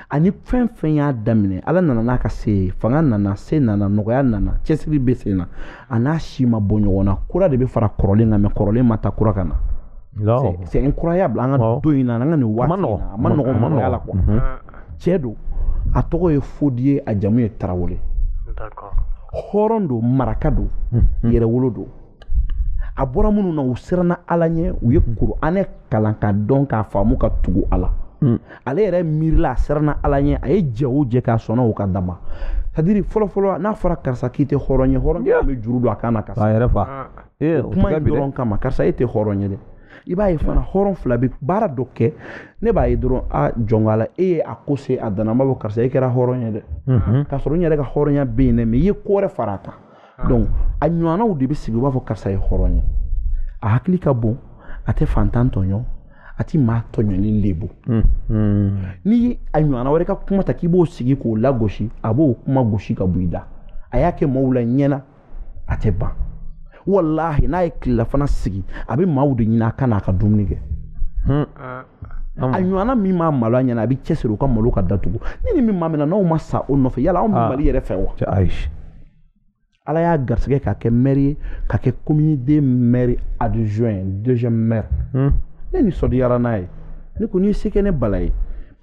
ani fɛn fɛn y'a daminɛ ala nana n'a ka se ye fanga nana se nana nɔgɔya nana cɛsiri bɛ sen na a n'a si ma bɔ ɲɔgɔn na kura de bɛ fara kɔrɔlen kan mais kɔrɔlen ma taa kura ka na c'est incroyable an ka don in na an ka nin waati in na a man nɔgɔn mɔgɔya la quoi mhm. cɛ don a tɔgɔ ye fodi ye a jamu ye tarawele hɔrɔn don maraka don mhm. yɛrɛwolo don a bɔra minnu na u siranna ala ɲɛ u ye kuranɛ kalan k'a dɔn k'a faamu ka tugu a la hmm. ale yɛrɛ miirila a siranna ala ɲɛ a ye jɛ o jɛ k'a sɔnna o ka dama c'est-à-dire fɔlɔfɔlɔ n'a fɔra karisa k'i tɛ hɔrɔn ye hɔrɔn yeah. bɛ juru don a kan na ka sa a yɛrɛ fa ah. eh, kuma in dɔrɔn kama karisa e tɛ hɔrɔn ye dɛ i b'a ye fana hɔrɔn fila bɛ baara dɔ kɛ ne b'a ye dɔrɔn a jɔnka la e ye a ko se a dan na a b'a fɔ karisa e kɛra hɔrɔn ye dɛ k'a sɔrɔ n yɛrɛ ka hɔrɔnya bɛ yen dɛ mais i ye ko wɛrɛ fara a kan donc a ɲɔgɔnnaw de bɛ sigi u b'a fɔ karisa ye hɔrɔn ye a hakili ka bon a tɛ fantan tɔɲɔ a ti maa tɔɲɔni lebu hmm, hmm. ni a ɲɔgɔnna wɛrɛ ka kuma ta k'i b'o sigi k'o lagosi a b'o kuma gosi ka bɔ i da a y'a kɛ maaw la ɲɛ na a tɛ ban walahi n'a ye tilelafana sigi a bɛ maaw de ɲini a ka n'a ka dumuni kɛ hmm. ah. a ɲɔgɔnna min maa malo a ɲɛ na a bɛ cɛsiri u ka malo ka datugu ni ni min maa min na n'anw ma sa o nɔfɛ yala anw bɛ ah. mali yɛrɛ fɛ wa ayi ala y'a garisɛgɛ k'a kɛ mɛri ye ka kɛ komini de mɛri adjoint deuxième maire hmm. ne nisɔndiyara n'a ye ne ko ni se kɛ ne bala ye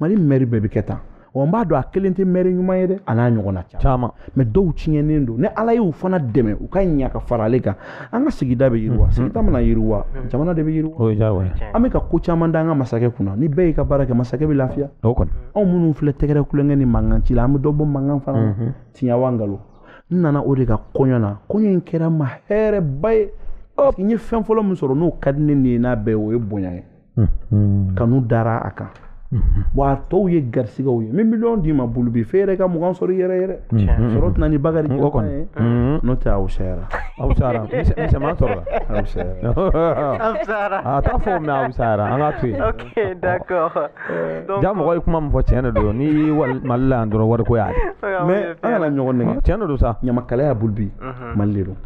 mali mɛri bɛɛ bɛ kɛ tan wa n b'a dɔn a kelen tɛ mɛri ɲuman ye dɛ a n'a ɲɔgɔnna caman mais dɔw tiɲɛnen don ni ala y'u fana dɛmɛ u ka ɲa ka fara ale kan an ka sigida bɛ yiriwa sigida mana yiriwa jamana de bɛ yiriwa an bɛ ka ko caman da an ka masakɛ kunna ni bɛɛ y'i ka baara kɛ masakɛ bɛ lafiya anw minnu filɛ tɛgɛrɛ kulonkɛ ni mankan ci la an bɛ dɔ bɔ mankan fana na tiɲɛ wa nkalon n nana o de ka kɔɲɔ na kɔɲɔ in kɛra n ma hɛrɛba ye n ye fɛn fɔlɔ min sɔrɔ n'o ka di ne ye n'a bɛɛ o ye bonya ye kanu dara a kan wa a tɔw ye garisɛgɛw ye min miliyɔn d'i ma bulubi f'e yɛrɛ ka mugan sɔrɔ i yɛrɛ yɛrɛ sɔrɔ tɛ na ni bakari kɛ kɔni ye n'o tɛ aw sayara aw sayara misɛnman sɔrɔ la aw sayara aw sayara a t'a fɔ mɛ aw sayara an k'a to yen ok d'accord ja mɔgɔ ye kuma min fɔ tiɲɛ de don n'i ye mali la yan dɔrɔn wariko y'a ye mais an kana ɲɔgɔn nɛgɛn tiɲɛ de don sa ɲamakalaya bulubi mali de don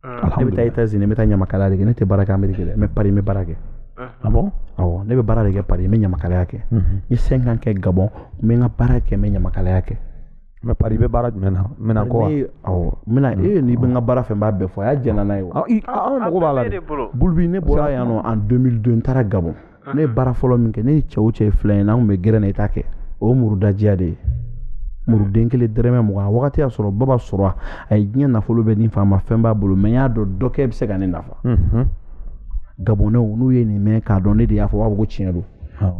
ne bɛ taa Etats Unis n bɛ taa ɲamakalaya de kɛ ne tɛ baara kɛ Ameriki dɛ mais Paris n bɛ baara kɛ ah bon awɔ ne bɛ baara de kɛ Paris n bɛ ɲamakalaya kɛ n ye cinq ans kɛ Gabon n bɛ n ka baara kɛ n bɛ ɲamakalaya kɛ mais Paris i bɛ baara jumɛn na minɛn ko wa awɔ minɛn n'i bɛ n ka baara fɛ n b'a bɛɛ fɔ a y'a jɛnna n'a ye wa an mago b'a la dɛ bulubi ne bɔra yan nɔ en 2002 n taara Gabon ne ye baara fɔlɔ min kɛ ne ni cɛ o cɛ ye filan ye n'an tun bɛ gɛrɛ na i t'a kɛ o ye murudajiya de ye muruden kelen dɛrɛmɛ mugan a wagati y'a sɔrɔ baba sora ye diɲɛ nafolo bɛɛ di n fa ma fɛn b'a bolo mais n y'a dɔn dɔ kɛ bɛ se ka ne nafa gabɔnɛw n'u ye nin mɛn k'a dɔn ne de y'a fɔ u b'a fɔ ko tiɲɛ don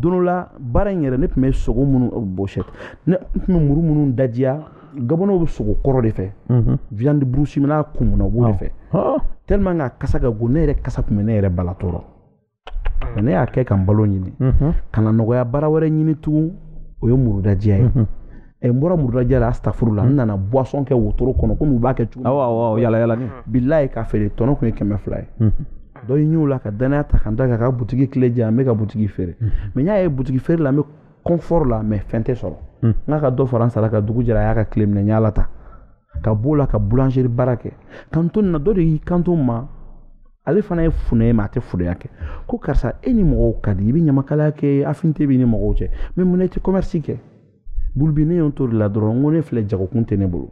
don dɔ la baara in yɛrɛ ne tun bɛ sogo minnu bɔsɔ ne tun bɛ muru minnu dajiya gabɔnɛw bɛ sogo kɔrɔ de fɛ viande brousse min n'a kumuna u b'o de fɛ tellement que a kasa ka go ne yɛrɛ kasa tun bɛ ne yɛrɛ bala tɔɔrɔ ne y'a kɛ ka n balo ɲini ka na nɔgɔya baara wɛrɛ ɲini tugun o ye murudajiya ye ɛ n bɔra murudajiya la astafurula n nana boisson kɛ wotoro kɔnɔ komi u b'a kɛ cogo awɔ awɔ yala yala bilayi k'a feere tɔnɔ tun ye kɛmɛ fila ye dɔ ye ɲɛw la ka danaya ta ka n da ka ka butigi kile di yan n bɛ ka butigi feere mais n y'a ye butigi feere la n bɛ confort la mais fɛn tɛ sɔrɔ n k'a ka dɔ fara n sara kan dugu jɛra a y'a ka kile minɛ n y'a lata ka b'o la ka boulangerie baara kɛ ka to nin na dɔ de y'i kanto n ma ale fana ye funɛ ye mais a tɛ funɛya kɛ ko karisa e ni mɔgɔw ka di i bɛ ɲamakalaya kɛ affinité b'i ni mɔgɔw cɛ mais mun na i tɛ commerce kɛ bulubi ne y'o to de la dɔrɔn n ko ne filɛ jagokun tɛ ne bolo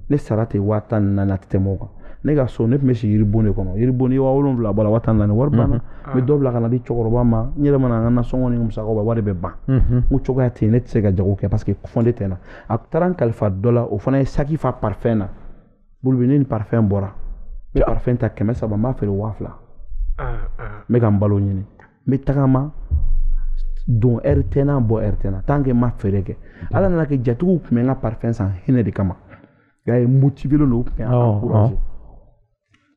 ne sara tɛ waa tan ni naani a tɛ tɛmɛ o kan ne ka so ne tun bɛ si yiribon de kɔnɔ yiribon ni waa wolonwula bɔ la waa tan naani wari banna n bɛ dɔ bila ka na di cɛkɔrɔba ma n yɛrɛ mana n ka nasɔngɔ ni musakaw bɔ wari bɛ ban n ko cogoya tɛ yen ne tɛ se ka jago kɛ parce que fɔnde tɛ n na a taara n kalifa dɔ la o fana ye saki fa parfum na bulubi ne ni parfum bɔra n bɛ parfum ta kɛmɛ saba n b'a feere waa fila n bɛ ka n balo ɲini n bɛ tagama don heure tɛ n na bɔ heure tɛ n na tant que n ma feere kɛ ala nana kɛ jatigiw tun bɛ n ka parfum san hinɛ de kama y'a ye motivélen don u tun bɛ n encourager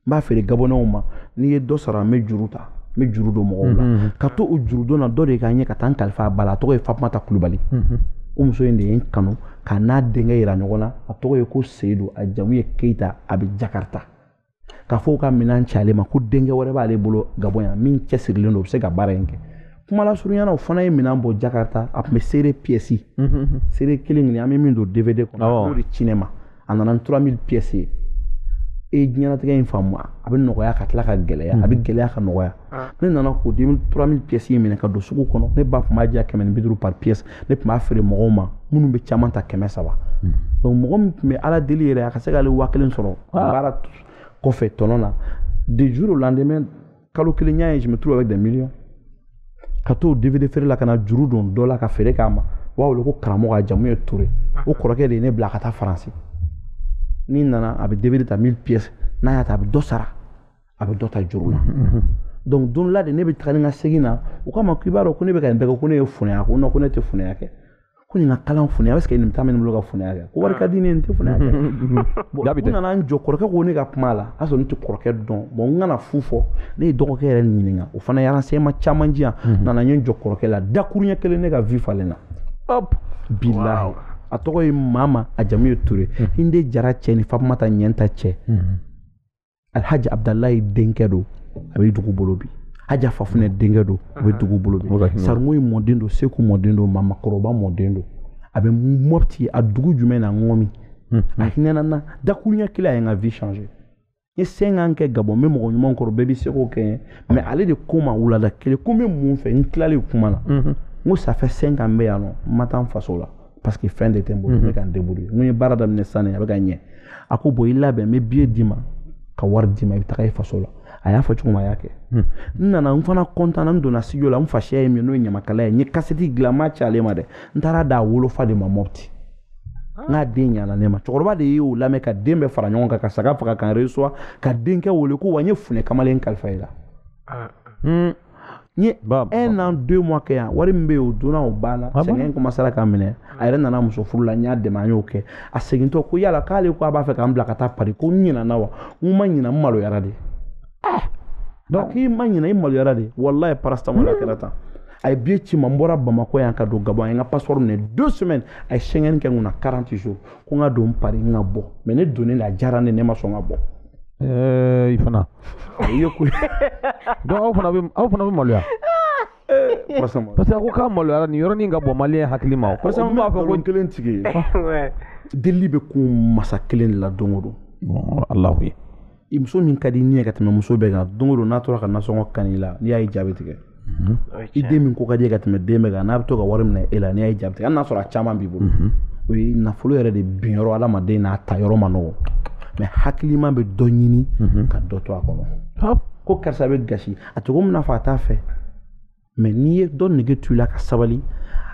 n b'a feere gabɔnɛw ma n'i ye dɔ sara n bɛ juru ta n bɛ juru don mɔgɔw la mhm. ka to o jurudon na dɔ de ka ɲɛ ka taa n kalifa a ba la a tɔgɔ ye fatumata kulubali mhm. o muso in de ye n kanu ka n n'a denkɛ yira ɲɔgɔn na a tɔgɔ ye ko seyidu a jamu ye keyita a bɛ jakarita k'a fɔ ka minɛn ci ale ma ko denkɛ wɛrɛ b'ale bolo gabɔn yan min cɛsirilen don o bɛ se ka baara in kɛ kuma lasurunya na o fana ye minɛn bɔ jakarita a tun bɛ seere pièces mhm. seere kelen kelen an bɛ min don dvd kɔnɔ a b'o de ci ne ma a nana ni trois mille pièces ye e diɲɛnatigɛ in faamu a bɛ nɔgɔya ka tila ka gɛlɛya a bɛ hmm. gɛlɛya ka nɔgɔya ah. ne nana k'o de trois mille pièces in minɛ ka don sugu kɔnɔ ne ba tun b'a di yan kɛmɛ ni bi duuru par pièce ne tun b'a feere mɔgɔw ma minnu bɛ caman ta kɛmɛ saba hmm. donc mɔgɔ min tun bɛ ala deli yɛrɛ a ka se k'ale waa kelen sɔrɔ ah. baara kɔfɛ tɔnɔ na du jour au lendemain kalo kelen n y'a ye je me trouve avec des millions ka t'o dvd feere la ka na juru don dɔ la ka feere k'a ma u b'a wele ko karamɔgɔ a jamu ye ture o kɔrɔkɛ de ye ne bila ka taa faransi n'i nana a bɛ dvd ta mille pièces n'a y'a ta a bɛ dɔ sara a bɛ dɔ ta juru la donc don la de ne bɛ taga ni ka segin na u k'a ma k'i b'a dɔn ko ne bɛ ka nin bɛɛ kɛ ko ne ye funɛ ye ko non ko ne tɛ funɛya kɛ ko nin ka kalan funɛya est ce que nin temps bɛ n bolo ka funɛya kɛ ko wari ka di ne ye n tɛ funɛya kɛ bon n nana n jɔ kɔrɔkɛ ko ne ka kuma la a sɔrɔ ne tɛ kɔrɔkɛ dɔn bon n kana fu fɔ ne ye dɔgɔkɛ yɛrɛ ɲininka o fana ye renseignement caman di yan n nana n ye n jɔ kɔrɔkɛ la dakuruɲɛ kelen ne ka vie falenna hop bilahi a tɔgɔ ye mama a jamu ye ture hinde jara cɛ ni fatumata ɲɛnta cɛ alhaji abudalayi denkɛ don a bɛ dugu bolo bi haja fafunɛ denkɛ don a bɛ dugu bolo bi sarimoyi mɔden don seku mɔden don mamakɔrɔba mɔden don a bɛ mɔpti a dugu jumɛn na ŋɔmi a hinɛna n na dakuruɲɛ kelen a ye n ka vie changer n ye cinq ans kɛ gabɔn n bɛ mɔgɔ ɲuman kɔrɔ bɛɛ bɛ se k'o kɛ n ye mais ale de ko n ma wulada kelen ko n bɛ mun fɛ n tilalen kuma na n ko ça fait cinq ans n bɛ yan nɔ n ma taa n faso la parce que fɛn de tɛ n bolo n bɛ ka n débrouiller n ko n ye baara daminɛ sisan nin a bɛ ka ɲɛ a ko bon i labɛn n bɛ billet d'i ma ka wari d'i ma i bɛ taga i faso la a y'a fɔ cogo min a y'a kɛ n nana n fana kɔntanna n donna studio la n fasiya ye min n'o ye ɲamakala ye n ye kasɛti dilan n m'a ci ale ma dɛ n taara d'a wolofa de ma mɔpti n k'a den ɲana ne ma cɛkɔrɔba de y'o lamɛn ka den bɛɛ fara ɲɔgɔn kan ka saga faga ka n reçoit ka denkɛ wele ko wa n ye funɛ kamalen kalifa i la n ye un an deux mois kɛ yan wari min bɛ yen o donna o banna ah sɛgɛn commencera k'a minɛ a yɛrɛ nana muso furu la n y'a dɛmɛ an y'o kɛ a segintɔ ko yala k'ale ko a b'a fɛ ka n bila ka taa pari ko n ɲinɛna wa n ma ɲinɛ n maloyara de ah! donc k'i ma ɲinɛ i maloyara de walayi paracetamol a kɛra tan a ye billet ci n ma n bɔra bamakɔ yan ka don gabɔn a ye n ka passeport minɛ deux semaines a ye schengen kɛ n kunna 40 jours ko n ka don pari n ka bɔ mais ne donnen de a diyara n ye ne ma sɔn ka bɔ i fana i ye ko donc aw fana bɛ aw fana bɛ maloya parce que a ko k'a maloyara nin yɔrɔnin ka bɔ maliyɛn hakilimaw parce que n b'a fɔ ko kelen tigi ye delili bɛ kun masa kelen de la don o don alahu ye i muso min ka di n ye ka tɛmɛ muso bɛɛ kan don o don n'a tora ka nasɔngɔ kan'i la n'i y'a ye jaabi tigɛ mhm. i den min ko ka di ka tɛmɛ den bɛɛ kan n'a bɛ to ka wari minɛ e la n'i ye jaabi tigɛ hali n'a sɔrɔ a caman b'i bolo mhm. o ye nafolo yɛrɛ de bin yɔrɔ adamaden n'a ta yɔrɔ man nɔgɔ mais hakilima bɛ dɔ ɲini mhm. ka dɔ to a kɔnɔ ko karisa bɛ gasi a cogo min na fɔ a t'a fɛ mais n'i ye dɔ nege to i la ka sabali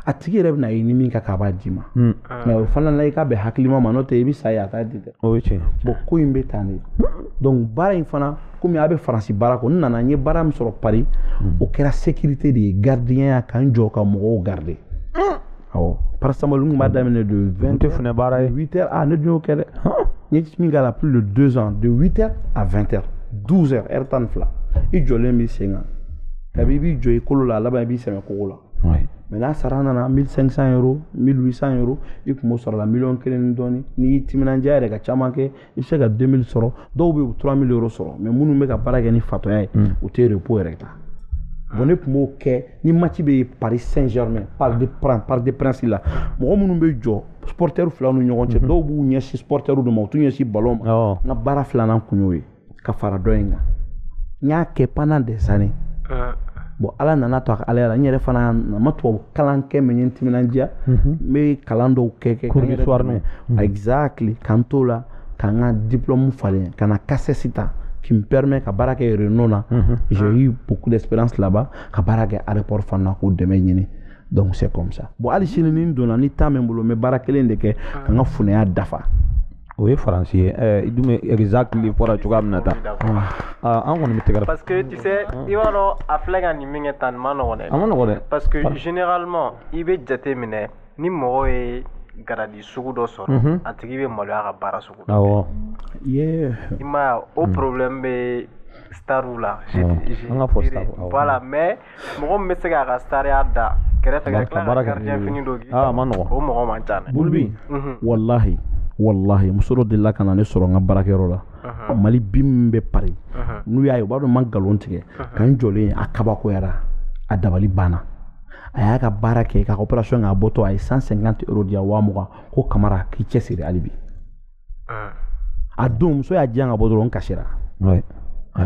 a tigi yɛrɛ bɛn'a ye ni min ka kan a b'a d'i ma hmm. mais o fana la i k'a bɛn hakilima ma n'o tɛ i bɛ sa ye a t'a di dɛ o ye tiɲɛ bon ko in bɛ tan de donc baara in fana komi a bɛ faransi baara kɔ n nana n ye baara min sɔrɔ pari hmm. o kɛra sécurité de ye gardiyanya ka n jɔ ka mɔgɔw garder ah! awɔ paracetamol n tun b'a daminɛ de vingt heures fana baara ye huit heures ah ne dun y'o kɛ dɛ n ye min k'a la plus de deux ans de huit heures à vingt heures douze heures heure tan ni fila i jɔlen b'i sen kan kabi i b'i jɔ i kolo la a laban i b'i sɛmɛ kogo la mais n'a sara nana mille cinq cent euro mille huit cent euro i tun b'o sɔrɔ la miliyɔn kelen ni dɔɔni n'i y'i timinandiya yɛrɛ ka caman kɛ i bɛ se ka 2000 sɔrɔ dɔw bɛ 3000 euro sɔrɔ mais minnu bɛ ka baara kɛ ni fatɔya ye hmm. u tɛ repos yɛrɛ ta bon ne tun b'o kɛ ni match bɛ Paris Saint-Germain Parc des Princes Parc des Princes la mɔgɔ minnu bɛ jɔ supporters fila ni ɲɔgɔn cɛ hmm. dɔw b'u ɲɛsin supporters de ma u t'u ɲɛsin ballon ma n ka baara filanan tun y'o ye. ka fara dɔ in kan n y'a kɛ pendant des années ah. bon ala nana to a ka ala la n yɛrɛ fana na ma tubabu kalan kɛ mais n ye n timinandiya mhm. n bɛ kalan dɔw kɛ kɛ ka n yɛrɛ dɛmɛ mhm. exactly ka n t'o la ka n ka diplôme falen ka na CACES ta qui me permet ka baara kɛ Renault na mhm. j'ai ah. eu beaucoup d'expérience là-bas ka baara kɛ aéroport fana k'o dɛmɛ ɲini donc c'est comme ça bon hali sini ni n donna ni temps bɛ n bolo n bɛ baara kelen de kɛ ka n ka funɛya dafa o ye faransi ye ɛɛ i dun bɛ exactly fɔra cogoya min na tan aa an kɔni bɛ tɛgɛrɛ parce que tu sais i b'a dɔn a filɛ ka nin min kɛ tan nin man nɔgɔn dɛ a man nɔgɔn dɛ parce que généralement i bɛ jate minɛ ni mɔgɔ ye garadi sugu dɔ sɔrɔ a tigi bɛ maloya ka baara sugu dɔ awɔ i m'a ye o problème bɛ stariw la an ka fɔ stariw voilà mais mɔgɔ min bɛ se k'a ka stariya da kɛrɛfɛ ka tila ka gardien fini don k'i a man nɔgɔn, o mɔgɔ man ca dɛ bulubi mhm. walahi walahi muso dɔ delila ka na ne sɔrɔ n ka baarakɛyɔrɔ la mhm. mali bi min bɛ Paris mhm. n'u y'a ye u b'a dɔn n ma nkalon tigɛ ka n jɔlen ye a kabakoyara a dabali banna a y'a ka baara kɛ k'a ka opération k'a bɔtɔ a ye 150 euro di yan waa mugan ko kamara k'i cɛsiri hali bi ah. a don muso y'a di yan ka bɔ dɔrɔn n kasira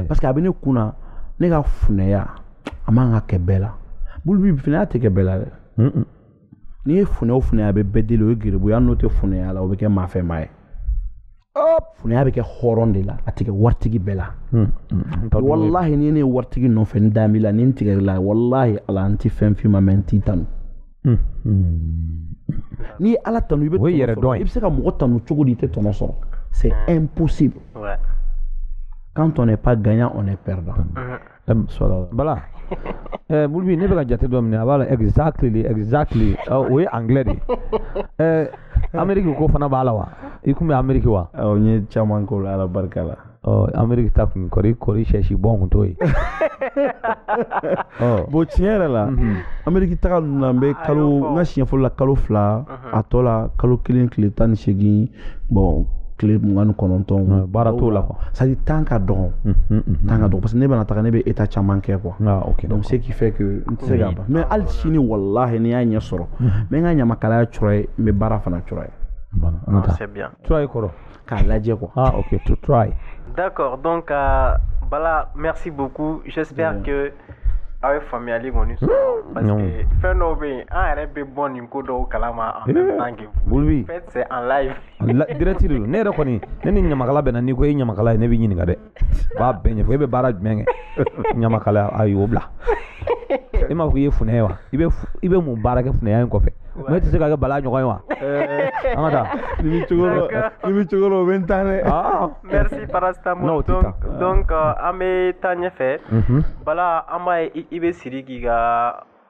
parce que a bɛ ne kun na ne ka funɛya a man ka kɛ bɛɛ la bulubi funɛya tɛ kɛ bɛɛ la dɛ n'i ye funɛ o funɛ a bɛ bɛɛ deli o ye geribuya n'o tɛ funɛya la o bɛ kɛ maa fɛnma ye funɛya bɛ kɛ hɔrɔn de la a tɛ kɛ waritigi bɛɛ la hmm, hmm, hmm, walahi ni ne ye waritigi nɔfɛ n da b'i la ni n tigɛr'i la walahi ala n tɛ fɛn f'i ma mais n t'i tanu N'i ye ala tan i bɛ i bɛ se ka mɔgɔ tan cogo di i tɛ tɔnɔ sɔrɔ se e psi kan tɔnɔ pa ganyan o ne pɛda bala bolobi ne bɛ ka jate dɔ minɛ a b'a la ɛgzsa tile ɛgzsa tile o ye an de ɛɛ anmeri ko fana b'a la wa i tun bɛ anmerike wa n ye caman ko la ala barika la ɔ ameriki taa kun kɔri kɔri sɛsi bɔn kun t'o ye ɔ bon tiɲɛ yɛrɛ la mhm. ameriki taga ninnu na n bɛ kalo n ka siɲɛ fɔlɔ la kalo fila a tɔ la kalo kelen tile tan ni seegin bon tile mugan ni kɔnɔntɔn baara t'o la quoi c'est à dire temps ka dɔgɔn temps ka dɔgɔn parce que ne bɛna taga ne bɛ état caman kɛ quoi ah, okay, donc ce qui fait que n tɛ se ka ban mais hali sini walahi ni n y'a ɲɛ sɔrɔ n bɛ n ka ɲamakalaya try n bɛ baara fana try. Voilà, ah, c'est bien. Try kɔrɔ k'a lajɛ quoi ah ok to try d'accord donc uh, bala merci beaucoup j'espère yeah. que aw ye faamuyali kɔni sɔrɔ parce que fɛn dɔw bɛ yen an yɛrɛ bɛ bɔ nin ko dɔw kalama en même temps que vous faites c'est en live direct de don ne yɛrɛ kɔni ne ni ɲamakala bɛnna n'i ko e ye ɲamakala ye ne b'i ɲininka dɛ u b'a bɛɛ ɲɛfɔ e bɛ baara jumɛn kɛ ɲamakala ayi o bila e m'a fɔ k'i ye funɛ ye wa i bɛ f- i bɛ mun baara kɛ funɛya in kɔfɛ mɛ e tɛ se ka kɛ bala ɲɔgɔn ye wa an ka taa ni bɛ cogo dɔ ni bɛ cogo dɔ o bɛ n tan dɛ Ah. Merci Non, paracétamol. o tɛ Donc, taa. donc euh, an bɛ taa ɲɛfɛ. Mhm. Bala an b'a ye i- i bɛ siriki ka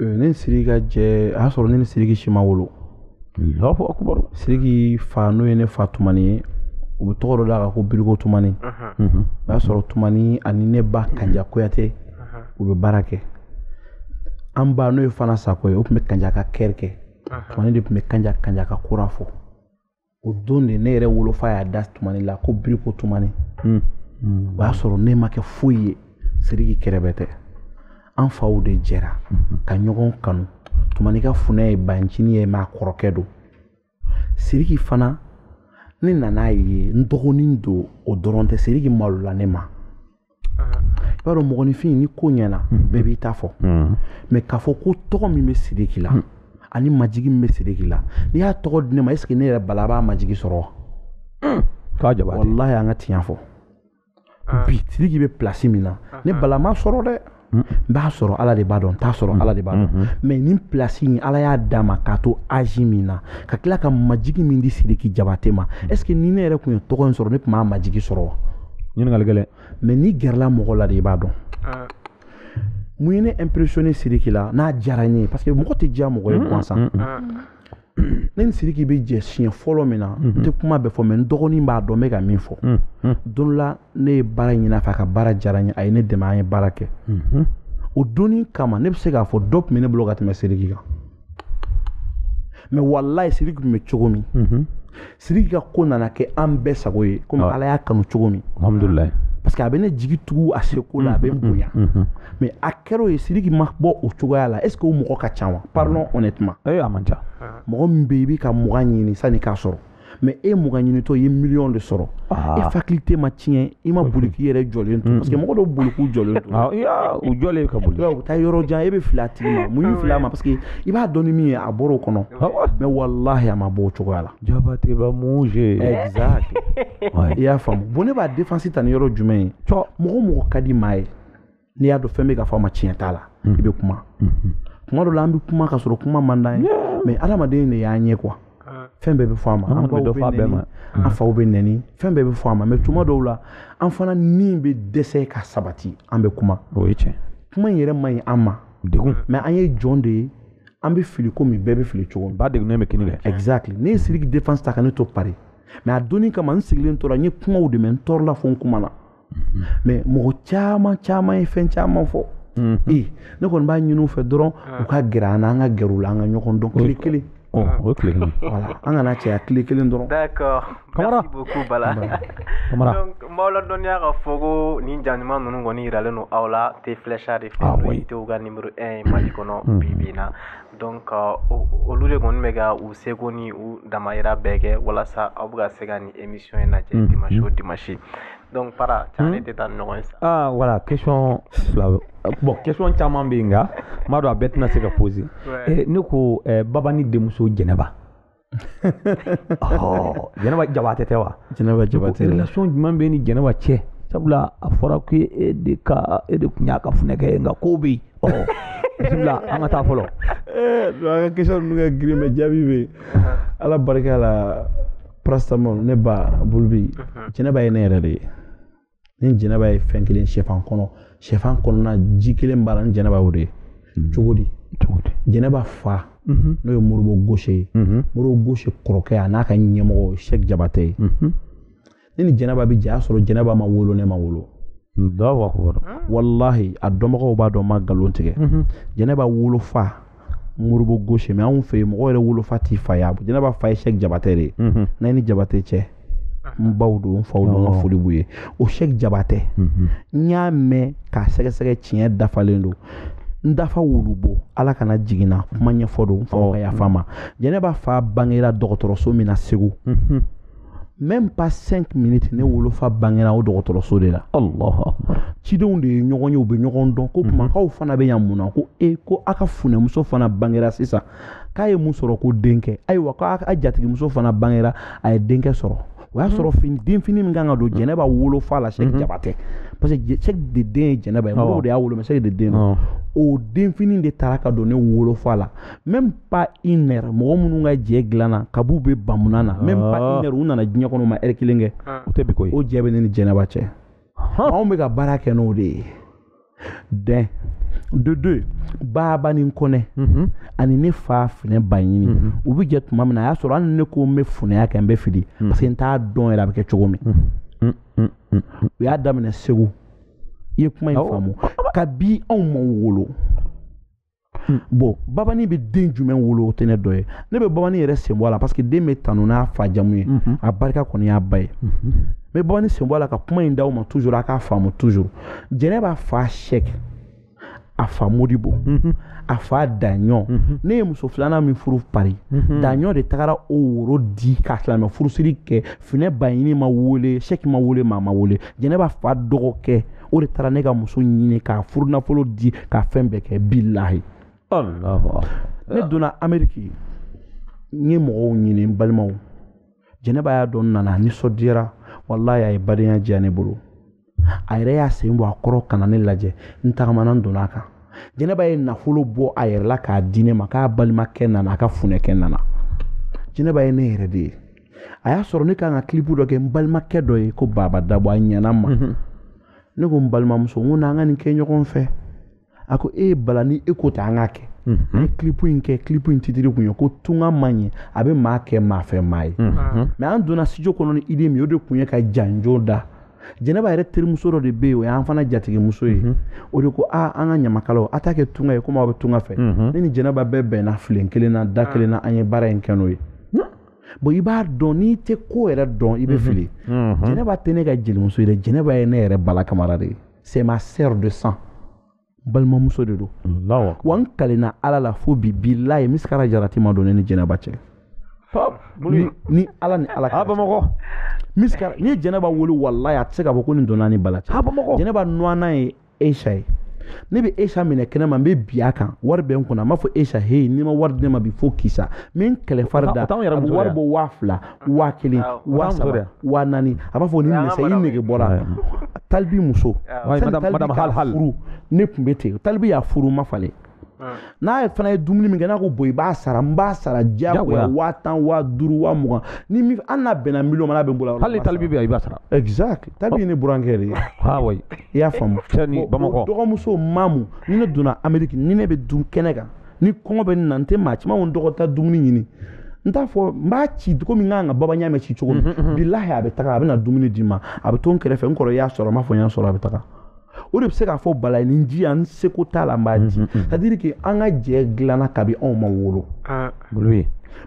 ne ni siriki ka jɛ a y'a sɔrɔ ne ni siriki si ma wolo siriki fa n'o ye ne fa tumani ye u bɛ tɔgɔ dɔ d'a kan ko biriko tumani o y'a sɔrɔ tumani ani ne ba kanja kuyate u bɛ baara kɛ an ba n'o ye fana sako ye o tun bɛ kanja ka kɛri kɛ tumani de tun bɛ kanja kanja ka kora fɔ o don de ne yɛrɛ wolofa y'a da tumani la ko biriko tumani hmm. Hmm. o y'a sɔrɔ ne ma kɛ foyi ye siriki kɛrɛbɛtɛ an faw de jɛra hmm. ka ɲɔgɔn kanu tumani ka funɛ ye bancini ye mɛ a kɔrɔkɛ don siriki fana ne nan'a ye n dɔgɔnin don o dɔrɔn tɛ siriki malola ne ma i b'a dɔn mɔgɔninfin ni ko ɲɛna bɛɛ b'i ta fɔ mɛ k'a fɔ ko tɔgɔ min bɛ sidiki la ani majigi min bɛ sidiki la n'i y'a tɔgɔ di ne ma est ce que ne yɛrɛ bala b'a majigi sɔrɔ wa walayi an ka tiɲɛ fɔ bi sidiki bɛ place min na ne bala m'a sɔrɔ dɛ n b'a sɔrɔ ala de b'a dɔn n t'a sɔrɔ ala de b'a dɔn mɛ nin place in ala y'a d'a ma k'a to âge min na ka tila ka majigi min di sidiki jabate ma est ce que ni ne yɛrɛ tun ye tɔgɔ in sɔrɔ ne tun b'a majigi sɔrɔ wa ɲininkali gɛlɛn mɛ n'i gɛrɛla mɔgɔ la de i b'a dɔn ah. mun ye ne impressionné sidiki la n'a diyara n ye parce que mɔgɔ tɛ diya mɔgɔ ye gansan ah. ne ni siriki bɛ jɛ siɲɛ fɔlɔ min na n tɛ kuma bɛɛ fɔ mɛ n dɔgɔnin b'a dɔn n bɛ ka min fɔ don la ne ye baara ɲini a fɛ a ka baara diyara n ye a ye ne dɛmɛ an ye baara kɛ o don in kama ne bɛ se k'a fɔ dɔ tun bɛ ne bolo ka tɛmɛ siriki kan mɛ walayi siriki tun bɛ cogo min siriki ka ko nana kɛ an bɛɛ sago ye komi ah. ala y'a kanu cogo min alhamdulilayi parce que a bɛ ne jigi tugu a seko la a bɛ n mm-hmm. bonya mm-hmm. mais a kɛra o ye siriki ma bɔ o cogoya la est ce que o mɔgɔ ka ca wa parlons mm-hmm. honnêtement ee eh, a man ca mɔgɔ min bɛ yen i bɛ ka mugan ɲini sani k'a sɔrɔ mais e mugan ɲinitɔ i ye miliyɔn de sɔrɔ ah. e faculté ma tiɲɛ i ma boli k'i yɛrɛ jɔlen to parce que mɔgɔ dɔw boli k'u jɔlen to ah, u jɔlen ka boli u bɛ taa yɔrɔ jan e bɛ fili a tigi ma mun y'i fili a ma parce que i b'a dɔn ni min ye a bɔra o kɔnɔ mɛ walahi a ma bɔ o cogoya la jabateba muze exact i y'a faamu bon ne b'a défense ta ni yɔrɔ jumɛn ye mɔgɔ mɔgɔ ka di maa ye n'i y'a dɔn fɛn bɛ ka fɔ a ma tiɲɛ t'a la hmm. i bɛ kuma hmm. tuma dɔ la an bɛ kuma ka sɔrɔ kuma man d'an ye mɛ adamaden de y'an ye quoi fɛn bɛɛ bɛ fɔ a ma an baw bɛ nɛni an faw bɛ nɛni fɛn bɛɛ bɛ fɔ a ma mɛ tuma dɔw la an fana ni bɛ dɛsɛ ka sabati an bɛ kuma o ye tiɲɛ kuma in yɛrɛ man ɲi an ma degun mais an ye jɔn de ye an bɛ fili komi bɛɛ bɛ fili cogo min ba degunnen bɛ kini kɛ exactly ne ye siriki défense ta ka ne to paris mais a dɔnni kama n sigilen tora n ye kumaw de mɛn n tɔɔrɔla fo n kumana mais mhm. mɔgɔ caman caman ye fɛn caman fɔ mhm. ee ne kɔni b'a ɲini u fɛ dɔrɔn ah. u ka gɛrɛ an na an ka gɛrɛ u la an ka ɲɔgɔn dɔn kelen kelen Ɔ ah. o tile kelen voilà an kana cɛya tile kelen dɔrɔn d'accord kamara merci beaucoup bala kamara donc n b'aw ladɔnniya ka fɔ ko nin ja ɲuman ninnu kɔni yiralen don aw la te flecha de fɛ ah, n'o ye tew ka numéro 1 ye mali kɔnɔ hmm. bi bi in na donc euh, olu de kɔni bɛ ka u seko ni u damayira bɛɛ kɛ walasa aw bɛɛ ka se ka nin émission in lajɛ hmm. dimanche o hmm. dimanche donc para ca ne tɛ taa ɲɔgɔn ye sa aa voilà question fila bon question caman bɛ yen nka n b'a dɔn a bɛɛ tɛna se ka poser ne ko babani denmuso jɛnɛba jɛnɛba jabate tɛ wa jɛnɛba jabate relation jumɛn b'i ni jɛnɛba cɛ sabula a fɔra ko e de ka e de tun y'a ka funɛkɛ ye nka ko bɛ yen bisimila an ka taa fɔlɔ an ka question ninnu ka girin mais jaabi bɛ ala barika la paracetamol ne b'aw bolo bi mhm. jɛnɛba ye ne yɛrɛ de ye n ni jɛnɛba ye fɛn kelen sɛfan kɔnɔ sɛfan kɔnɔna ji kelen b'a la n ni jɛnɛba o de ye mhm. cogo di jɛnɛba fa mhm. n'o ye moribo gaucher ye moribo gaucher kɔrɔkɛ a n'a ka ɲɛmɔgɔ sɛki jabate ye ne ni jɛnɛba bi jɛ a sɔrɔ jɛnɛba ma wolo ne ma wolo walahi a dɔnbagaw b'a dɔn n ma nkalon tigɛ jɛnɛba wolofa moribo gaucher mais anw fɛ yen mɔgɔ yɛrɛ wolofa t'i fa ye jɛnɛba fa ye sɛki jabatɛ de nayini jabatɛ cɛ n baw don n faw don n ka foli b'u ye o sɛki jabatɛ n y'a mɛn k'a sɛgɛsɛgɛ tiɲɛ dafalen don n dafa wulubo ala kana jiginna kuma ɲɛfɔ don n faw ka yafa n ma jɛnɛba fa bangera dɔgɔtɔrɔso min na segu même pas 5 minutes ne wolofa bangera o dɔgɔtɔrɔso de la allah cidenw de ye ɲɔgɔn ye u bɛ ɲɔgɔn dɔn ko mhm. kumakaw fana bɛ yan mun na ko e ko a ka funɛmuso fana bangera sisan k'a ye mun sɔrɔ ko denkɛ ayiwa k'a ka jatigimuso fana bangera a ye denkɛ sɔrɔ o y'a mhm. sɔrɔ fini denfini min kan ka don mhm. jɛnɛba wolofa la sɛki jabate parce que sɛki de den ye jɛnɛba ye mɔgɔw de y'a wolo mais sɛki de den o denfini de taara ka don ne wolofa la même pas une heure mɔgɔ minnu ka jɛ dilanna kab'u bɛ bamunan na même pas ah. une heure u nana diɲɛ kɔnɔ u ma heure kelen kɛ ah. o tɛ bi ko ye o jɛ bɛ ne ni jɛnɛba cɛ anw bɛ ka baara kɛ n'o de ye dɛ de deux babani kɔnɛ mhm. ani ne fa finɛ baɲini mhm. u bɛ jɛ tuma min na a y'a sɔrɔ hali ne ko n bɛ funɛya kɛ n bɛ fili mhm. parce que n t'a dɔn yɛrɛ a bɛ kɛ cogo min mm, mm, mm, u y'a daminɛ segu i ye kuma in faamu kabi anw ma wolo Hmm. bon babani bɛ den jumɛn wolo o tɛ ne dɔ ye ne bɛ babani yɛrɛ sen bɔ a la parce que den bɛ tanu n'a fa jamu ye mhm. a barika kɔni y'a ba ye n mhm. bɛ babani sen bɔ a la ka kuma in d'aw ma toujours a k'a faamu toujours jɛnɛba fa sɛki a fa modibo mhm. a fa daɲɔ ne ye muso filanan min furu pari daɲɔ de tagara o woro di ka silamɛ furusiri kɛ finɛ baɲini ma wele sɛki ma wele maa ma wele jɛnɛba fa dɔgɔkɛ o de taara ne ka muso ɲini k'a furu nafolo di k'a fɛn bɛɛ kɛ bilahi ne donna ameriki n ye mɔgɔw ɲini n balimaw jɛnɛba y'a dɔn nana nisɔndiyara walayi a ye badenya diya ne bolo a yɛrɛ y'a sen bɔ a kɔrɔ ka na ne lajɛ n tagama na n donna a kan jɛnɛba ye nafolo bɔ a yɛrɛ la k'a di ne ma k'a balimakɛ nana a ka funɛkɛ nana jɛnɛba ye ne yɛrɛ de ye a y'a sɔrɔ ne kan ka kilipu dɔ kɛ n balimakɛ dɔ ye ko baba dabɔ a ɲɛna ma mhm. ne ko n balimamuso n ko n'an ka nin kɛ ɲɔgɔn fɛ a ko e ye bala ni e ko ten an k'a kɛ mhm. an ye kilipu in kɛ kilipu in titiri kun ye ko tunga man ɲi a bɛ maa kɛ maa fɛ maa ye mhm. mais an donna studio kɔnɔ ni idée min o de kun ye ka janjo da jɛnɛba yɛrɛ terimuso dɔ de bɛ yen o y'an fana jatigimuso ye o de ko aa an ka ɲamakalaw a t'a kɛ tunga ye komi aw bɛ tunga fɛ ne ni jɛnɛba bɛɛ bɛnna filen kelen na da kelen na an ye baara in kɛ n'o ye bon i b'a dɔn n'i tɛ ko yɛrɛ dɔn i bɛ mhm. fili mhm. jɛnɛba tɛ ne ka jelimuso ye dɛ jɛnɛba ye ne yɛrɛ bala kamara de ye c'est ma sœur de sang balimamuso de don wa n kalenna ala la fo bi bilayi misikara jarati ma don ne ni jɛnɛba cɛ ni ala ni ala kɛra bamakɔ misikara n'i ye jɛnɛba wolo walayi a tɛ se k'a fɔ ko nin donna ni bala cɛ jɛnɛba nɔnna ye Aisha ye ne bɛ Aisha minɛ kɛnɛ ma n bɛ bin a kan wari bɛ n kunna n b'a fɔ Aisha heyi n'i ma wari di ne ma bi fo kisa n bɛ n kɛlɛ fari da a bɛ wari bɔ waa fila waa kelen waa saba waa naani a b'a fɔ ni nɛgɛ i nege bɔra talibi muso sani talibi k'a furu ne tun bɛ ten talibi y'a furu n ma falen n'a ye fana ye dumuni min kɛ n'a ko bon i b'a sara n b'a sara diyagoya waa tan waa duuru waa mugan ni min an n'a bɛnna miliyɔn ma n'a bɛ n bolo hali talibi bɛ yan i b'a sara exact talibi ye ne burankɛ de ye awɔ i y'a faamu ni bamakɔ dɔgɔmuso mamu ni ne donna ameriki ni ne bɛ dun kɛnɛ kan ni kɔngɔ bɛ n na n tɛ maa caman n dɔgɔ taa dumuni ɲini n t'a fɔ n b'a ci komi n kan ka baba ɲamɛ ci cogo min bilahi a bɛ taga a bɛ na dumuni di n ma a bɛ to n kɛrɛfɛ n kɔrɔ y'a sɔrɔ n b'a fɔ n y'a sɔrɔ a bɛ taga o de bɛ se k'a fɔ bala ye nin di yan n seko t'a la n b'a di c'est à dire que an ka jɛ dilanna kabi anw ma wolo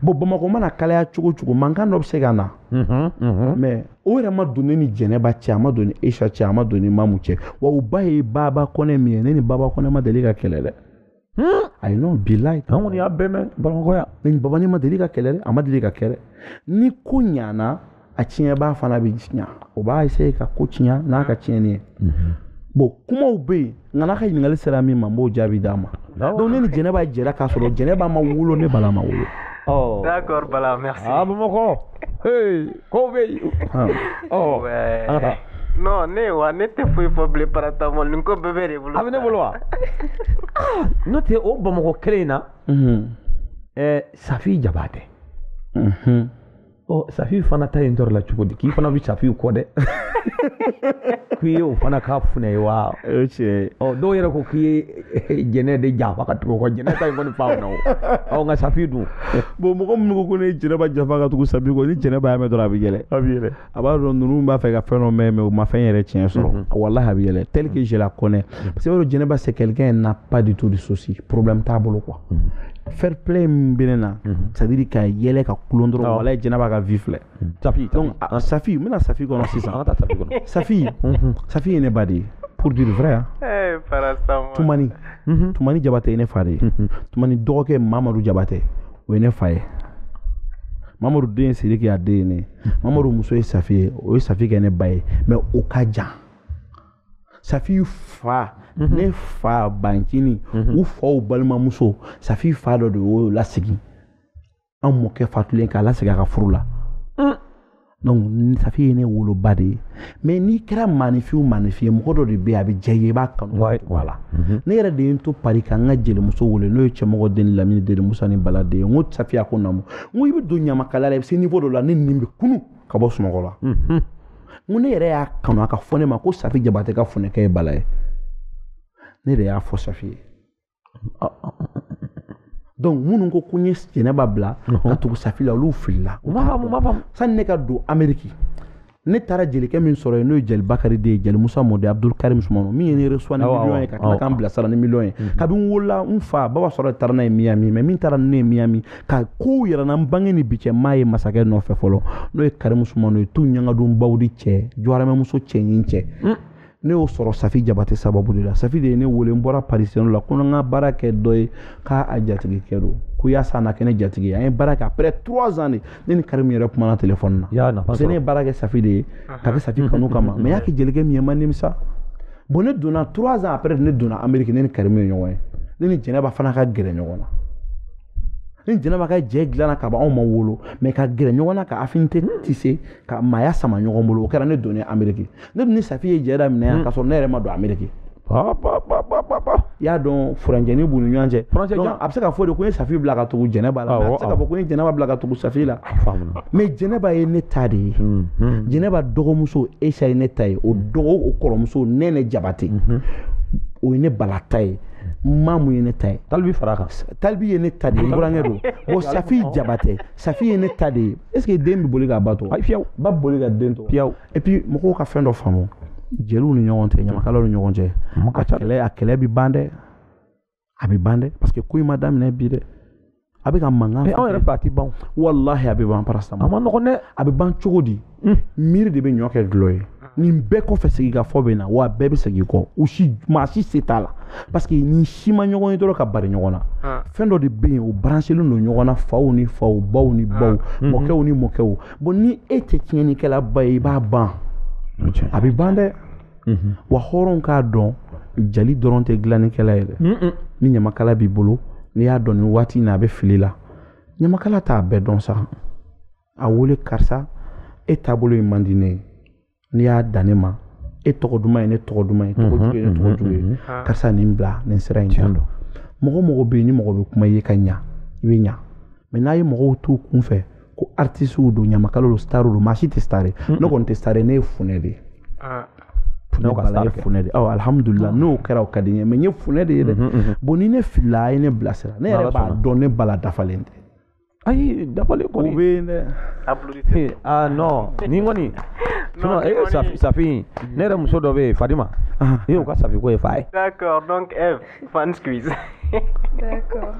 bon bamakɔ mana kalaya cogo cogo mankan dɔ bɛ se ka na mais o yɛrɛ ma don ne ni jɛnɛba cɛ a ma don ni Aisha cɛ a ma don ni mamu cɛ wa u ba ye baba kɔnɛ min ye ne ni baba kɔnɛ ma deli ka kɛlɛ dɛ Hmm? ayi non bilahi an kɔni y'a bɛɛ mɛn bamakɔ yan ne ni babani ma deli ka kɛlɛ dɛ a ma deli ka kɛlɛ ni ko ɲana a tiɲɛbaa fana bɛ tiɲɛ o b'a essayer ka ko tiɲɛ n'a ka tiɲɛni ye mhm. bon kumaw bɛ yen nka n'a ka ɲininkali sera min ma n b'o jaabi d'a ma donc ne ni jɛnɛba jɛra k'a sɔrɔ jɛnɛba ma wolo ne bala ma wolo d'accord bala merci ah bamakɔ hey Ko bɛ yen ne wa ne tɛ foyi fɔ bilen para nin ko bɛɛ b'e de bolo a bɛ ne bolo wa n'o tɛ o bamakɔ kelen in na safi jabate safi fana ta in tɔɔrɔ la cogo di k'i fana bɛ safi kɔ dɛ k'i ye o fana ka funɛ ye wa dɔw yɛrɛ ko k'i ye jɛnɛ de janfa ka tugu kɔ jɛnɛ ta in kɔni faamuna o ɔ nka safi dun bon mɔgɔ minnu ko ko ne ye jɛnɛba janfa ka tugu safi kɔ ni jɛnɛba y'a mɛn dɔrɔn a bɛ yɛlɛ a bɛ yɛlɛ a b'a dɔn ninnu b'a fɛ ka fɛn dɔ mɛn mais u ma fɛn yɛrɛ tiɲɛ sɔrɔ mhm. walahi a bɛ yɛlɛ tel que je la connais parce que bawo jɛnɛba c'est quelqu'un elle n'a pas du tout de souci problème t'a bolo quoi mhm. fair play min bɛ ne na mhm. c'est à dire ka yɛlɛ ka kulo dɔrɔn walahi jɛnɛba ka vie filɛ Safi donc a- Safi n bɛna Safi kɔnɔ sisan an ka taa Safi kɔnɔ Safi Safi ye ne ba de ye pour dire vrai hein. Eh, paracetamol. Tumani Tumani Jabate ye ne fa de ye Tumani dɔgɔkɛ Mamadu Jabate o ye ne fa ye Mamadu den ye Sidiki a den ye ne ye Mamadu muso ye Safi ye o ye Safi kɛ ne ba ye mais o ka jan Safi fa ne fa bancini u faw balimamuso Safi fa dɔ de y'o lasigi an mɔkɛ fatulen k'a lasigi a ka furu la donc safi ye ne woloba de ye mais n'i kɛra maanifin o maanifin ye mɔgɔ dɔ de bɛ yen a bɛ diya i ye i b'a kanu voilà mhm. ne yɛrɛ de ye n to pari ka n ka jelimuso wele n'o ye cɛmɔgɔ den lamini den musa ni bala den ye n ko safi a ko naamu n ko i bɛ don ɲamakala la i bɛ se niveau dɔ la nɛni b'i kunun ka bɔ sunɔgɔ la mhm. n ko ne yɛrɛ y'a kanu a ka fɔ ne ma ko safi jabate ka funɛkɛ ye bala ye ne de y'a fɔ safi ye donc minnu ko ko n ye jɛnɛba bila ka tugu safi la olu filila u b'a faamu u b'a faamu sani ne ka don ameriki ne taara jelikɛ min sɔrɔ yen n'o ye jeli bakari den ye jeli musa mɔden abdul karim sumano min ye ne recevoir ni miliyɔn ye ka tila k'an bilasira ni miliyɔn ye kabini n wolola n fa baba sora de taara n'a ye miyami mais min taara ne ye miyami ka kow yɛrɛ na n bange ni bi cɛ maa ye masakɛ nɔfɛ fɔlɔ n'o ye karimu sumano ye tu ɲangadonbaw di cɛ jɔrɛmɛmuso cɛɲin cɛ ne y'o sɔrɔ safi jabate sababu de la safi de ye ne wele n bɔra parisiyɛn la ko n ka baara kɛ dɔ ye k'a jatigikɛ don ko yaasa a na kɛ ne jatigi ye an ye baara kɛ après trois ans de ne ni karimu yɛrɛ kumana telefɔni na y'a nafa parce que ne ye baara kɛ safi de ye k'a kɛ safi kanu kama mais n y'a kɛ jelikɛ min ye n ma nimisa bon ne donna trois ans après ne donna amérique ne ni karimu ye ɲɔgɔn ye ne ni jɛnɛba fana ka gɛrɛ ɲɔgɔn na ni jɛnɛba ka jɛ dilanna ka ban anw ma wolo mais ka gɛrɛ ɲɔgɔn na ka affinité tisser ka maaya sama ɲɔgɔn bolo o kɛra ne donnen ameriki ne dun ni safi ye jɛ daminɛ yan hmm. k'a sɔrɔ ne yɛrɛ ma don ameriki i y'a dɔn furancɛni b'u ni ɲɔgɔn cɛ a bɛ se ka fɔ de ko n ye safi bila ka tugu jɛnɛba la a bɛ se ka fɔ ko n ye jɛnɛba bila ka tugu safi la mais jɛnɛba ye ne ta de ye hmm, hmm. jɛnɛba dɔgɔmuso aisha ye ne ta ye o dɔgɔ o kɔrɔmuso nɛnɛ jabate o ye ne bala ta ye mamu ye ne ta ye talibi fara kan talibi ye ne ta de ye n burankɛ don bon safi jabate safi ye ne ta de ye est ce que den bɛ boli k'a ba to ayi fiyewu ba boli ka den to fiyewu et puis mɔgɔw ka fɛn dɔ faamu jeliw ni ɲɔgɔn cɛ ɲamakalaw ni ɲɔgɔn cɛ a kɛlɛ a kɛlɛ bɛ ban dɛ a bɛ ban dɛ parce que ko in ma daminɛ bi dɛ a bɛ ka mankan anw yɛrɛ fɛ a tɛ ban walahi a bɛ ban paracetamol a ma nɔgɔn dɛ a bɛ ban cogo di hmm. miiri de bɛ ɲɔ kɛ dɔlɔ ye nin bɛɛ kɔfɛ sigikafɔ bɛ na wa bɛɛ bɛ segin kɔ u si maa si se t'a la parce que nin si ma ɲɔgɔn ye dɔrɔn ka bari ɲɔgɔn na ah. fɛn dɔ de bɛ yen o baransilen don ɲɔgɔn na faw ni faw baw ni ah. baw mhm. mɔkɛw ni mɔkɛw bon ni e tɛ tiɲɛnikɛlaba ye i b'a ban a bɛ ban dɛ wa hɔrɔn k'a dɔn jali dɔrɔn tɛ dilannikɛla ye dɛ ni ɲamakala b'i bolo n'i y'a dɔn nin waati in na a bɛ fili la ɲamakala t'a bɛɛ dɔn sa a wele karisa e taabolo in man di ne ye n'i y'a dan ne ma e tɔgɔ duman ye ne tɔgɔ duman ye tɔgɔ jugu ye ne tɔgɔ jugu ye karisa nin bila nin sira in kan mɔgɔ mɔgɔ bɛ yen ni mɔgɔ bɛ kuma i ye ka ɲa i bɛ ɲa mais n'a ye mɔgɔw t'u kun fɛ ko artisiw don ɲamakala don star don maa si tɛ star ye ne kɔni tɛ star ye ne ye funɛ de ye ah. ne ka star funɛ de awɔ alhamdulilah n'o kɛra o ka di n ye mais n ye funɛ de ye dɛ mhm, mhm. bon ni ne filila a ye ne bilasira ne yɛrɛ b'a dɔn ne bala dafalen tɛ ayi dafalen kɔni o bɛ yen dɛ eh, ah non nin kɔni sinon e safi safi ne yɛrɛ muso dɔ bɛ yen fadima e y'o ka safi ko ye fa ye d'accord donc Eve Fan squeeze. D'accord.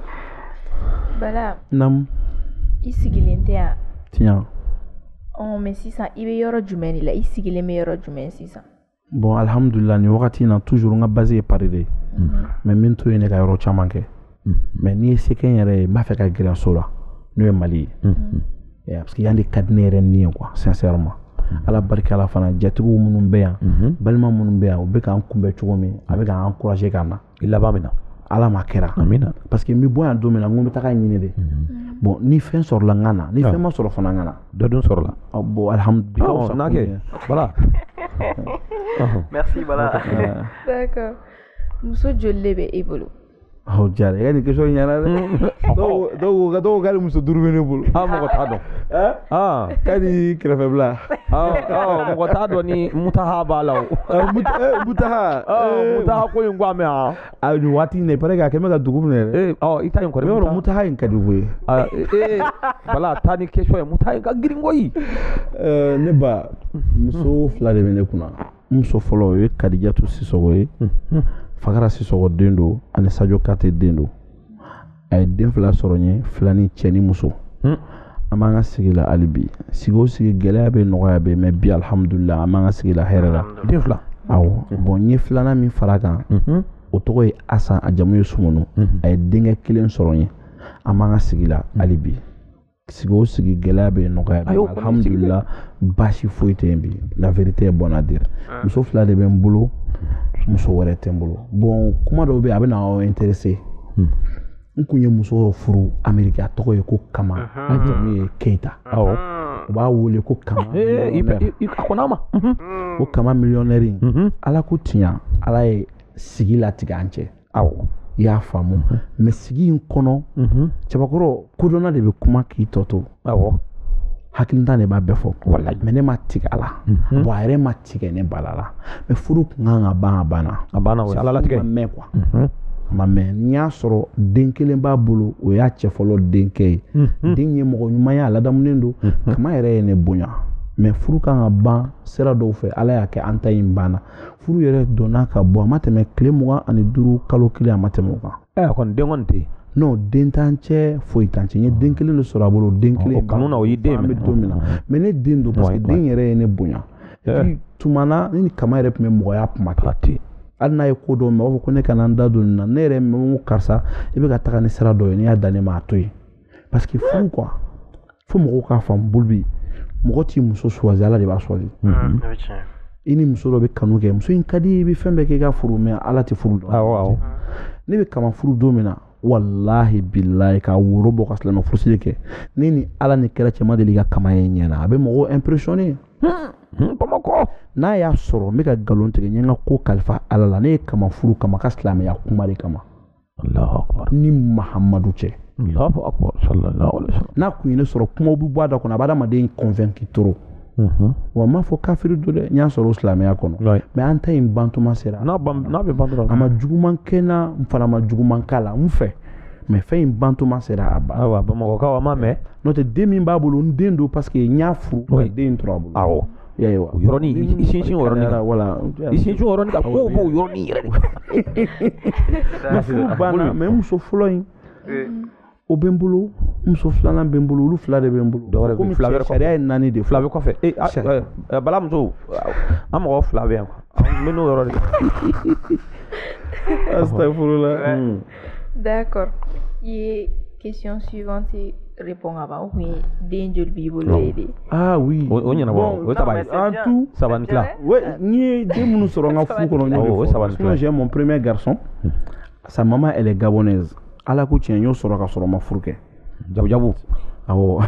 Bala. Nam. I sigilen tɛ yan. Tiɲɛ. Ɔ mais sisan i bɛ yɔrɔ jumɛn de la i sigilen bɛ yɔrɔ jumɛn sisan. Bon alihamudulila nin wagati in na toujours n ka base ye Paris de ye. Mhm. Mais n bɛ n to yen ne ka yɔrɔ caman kɛ. Mhm. Mais ni n ye se kɛ n yɛrɛ ye n b'a fɛ ka gɛrɛ so la n'o ye Mali ye. Mhm. eh, parce que yan de ka di ne yɛrɛ ni ye quoi sincèrement mhm. ala barika la fana jatigiw minnu bɛ yan mhm. balima minnu bɛ yan u bɛ k'an kunbɛn cogo min a bɛ k'an encourager ka na i laban min na ala m'a kɛra amina parce que n bɛ bɔ yan don min na n ko n bɛ taga ɲini de mhm. bon ni fɛn sɔrɔla n ka na ni ah. fɛn ma sɔrɔ fana n ka na dɔ dun sɔrɔla ah, bon alhamdulilah ah, n'a kɛ voilà merci voilà d'accord muso joli de bɛ e bolo aw jara i ka nin question ɲɛna dɛ dɔw ko k'ale muso duuru bɛ ne bolo aa mɔgɔ t'a dɔn aa k'a ni kɛrɛfɛbila mɔgɔ t'a dɔn ni mutaha b'a la o mutaha mutaha ko in ko an bɛ yan a nin waati in na il paraît k'a kɛlen bɛ ka dugu minɛ dɛ ɔ i ta in kɔni yɔrɔ mutaha in ka di koyi ee bala taa ni question ye mutaha in ka girin koyi ne ba muso fila de bɛ ne kunna muso fɔlɔ o ye kadijatu sisɔgɔ ye fagara sisɔgɔ den don ani sajo kate den don a ye den fila sɔrɔ n ye filani cɛ ni muso hmm. an b'an ka sigi la hali bi sigi o sigi gɛlɛya bɛ nɔgɔya bɛ mɛ bi alihamudulila an b'an ka sigi la hɛrɛ la den fila awɔ hmm. bɔn n ye filanan min fara kan hmm. o tɔgɔ ye asan a jamu ye sumunu a ye denkɛ kelen sɔrɔ n ye an b'an ka sigi la hali bi sigi o sigi gɛlɛya bɛ nɔgɔya alhamdulila baasi foyi tɛ yen bi la vérité est bonne à dire ah. muso fila de bɛ n bolo muso wɛrɛ tɛ n bolo bon kuma dɔw bɛ yen a bɛ na aw intéresser hmm. n kun ye muso dɔ furu ameriki a tɔgɔ ye ko kama a jamu ye keyita awɔ u b'a wele ko kama a kɔnɔ ma ko kama miliyɔnɛri ala ko tiɲa ala ye sigi latigɛ an cɛ aw i y'a faamu mɛ sigi in kɔnɔ cɛbakɔrɔ kodɔnna de bɛ kuma k'i tɔ to aw hakilintan de b'a bɛɛ fɔ wala mɛ ne ma tigɛ a la bɔn a yɛrɛ ma tigɛ ne bala la mɛ furu kun kan ka ban a banna a banna a latigɛ ma mɛn quoi a ma mɛn n y'a sɔrɔ den kelen b'a bolo o y'a cɛ fɔlɔ denkɛ ye den ye mɔgɔ ɲuman ye a ladamunen don kama yɛrɛ ye ne bonya mɛ furu kan ka ban sira dɔw fɛ ala y'a kɛ an ta in banna furu yɛrɛ donna ka bɔ a ma tɛmɛ tile mugan ani duuru kalo kelen a ma tɛmɛ o kan ɛ eh, kɔni den kɔni tɛ yen non den t'an cɛ foyi t'an cɛ n ye den kelen de sɔrɔ a bolo den kelen kanu na o y'i den bɛ don min na mɛ ne den don parce que den yɛrɛ ye ne bonya eh. tuma na ne ni kama yɛrɛ tun bɛ mɔgɔya kuma kɛ hali n'a ye ko dɔ mɛ a b'a fɔ ko ne kana n da don nin na ne yɛrɛ mɛ ko karisa i bɛ ka taga ni sira dɔ ye n'i y'a dan ne ma a to yen parce que furu quoi fo mɔgɔw k'a faamu bolo bɛ yen mɔgɔ t'i muso choisir ala de b'a choisir i ni muso dɔ bɛ kanu kɛ muso in ka di i bɛ fɛn bɛɛ kɛ i k'a furu mɛ ala tɛ furu dɔn ne bɛ kama furu don min na walahi bilahi ka woro bɔ ka silamɛ furusiri kɛ ne ni ala ni kira cɛ n ma deli ka kama ye ɲɛ na a bɛ mɔgɔw impressionné bamakɔ n'a y'a sɔrɔ n bɛ ka nkalon tigɛ n ye n ka ko kalifa ala la ne ye kama furu kama ka silamɛya kuma de kama ni mahamadu cɛ n'a kun ye ne sɔrɔ kumaw bɛ bɔ a da kɔnɔ a bɛ adamaden convaincre trop mhm. wa n m'a fɔ kafiri don dɛ n y'a sɔrɔ o silamɛya kɔnɔ mɛ an ta in bantuma sera n'a bɛ ban a ma juguman kɛ n na n fana ma juguman k'a la n fɛ mɛ fɛn in bantuma sera a banna bamakɔkaw a ma mɛn n'o tɛ den min b'a bolo n den don paseke n y'a furu den tora a bolo Yɔrɔnin sinsin voilà sin ka ko b'o yɔrɔnin yɛrɛ banna mais muso fɔlɔ in o bɛ n bolo muso filanan bɛ n bolo olu fila de bɛ n bolo dɔw fila wɛrɛ sariya ye naani de fila bɛ kɔfɛ bala muso an mɔgɔ fila bɛ yan n bɛ n'o yɔrɔ de la a furu la d'accord i ye question suivante répond ka ban ou bien den joli b'i bolo Non. ye de ah oui o o ɲɛnabɔ Bon, o ye saba ye en tout saba ni tila ouais n ye den minnu sɔrɔ n ka furu kɔnɔ n y'o de Awɔ, o ye fɔ. saba ni Sinon, tila. j'ai mon premier garçon sa maman elle est gabonaise ala ko tiɲɛ n y'o sɔrɔ ka sɔrɔ n ma furu kɛ jabujabu awɔ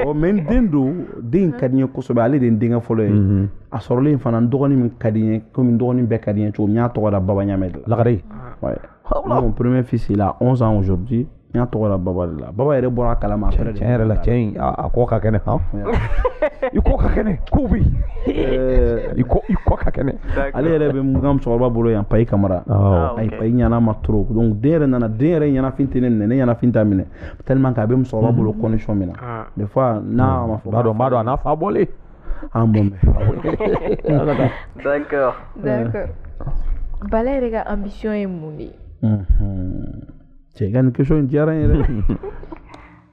ɔ mais n den don den in ka di n ye kosɛbɛ ale de ye n denkɛ fɔlɔ ye mhm. a sɔrɔlen fana n dɔgɔnin min ka di n ye komi n dɔgɔnin bɛɛ ka di n ye cogo min n y'a tɔgɔ da baba ɲamɛ de la lagare mon premier fils il a 11 ans aujourd'hui n y'a tɔgɔ da baba de la baba yɛrɛ bɔra a kalama après tiɲɛ yɛrɛ la cɛ in a kɔ ka kɛnɛ han i kɔ ka kɛnɛ kow bɛ yen i kɔ i kɔ ka kɛnɛ ale yɛrɛ bɛ n ka musokɔrɔba bolo yan payi kamara ah, ayi payi ɲana ma trop donc den yɛrɛ nana den yɛrɛ ɲanafin tɛ ne minɛ ne ɲanafin t'a minɛ tellement que a bɛ musokɔrɔba bolo mhm. condition min na ah. des fois n'a ma fɔ b'a dɔn b'a dɔn a n'a fa bɔlen an bon d'accord d'accord bala yɛrɛ ka ambition ye mun de ye cɛ i ka nin question in diyara n ye dɛ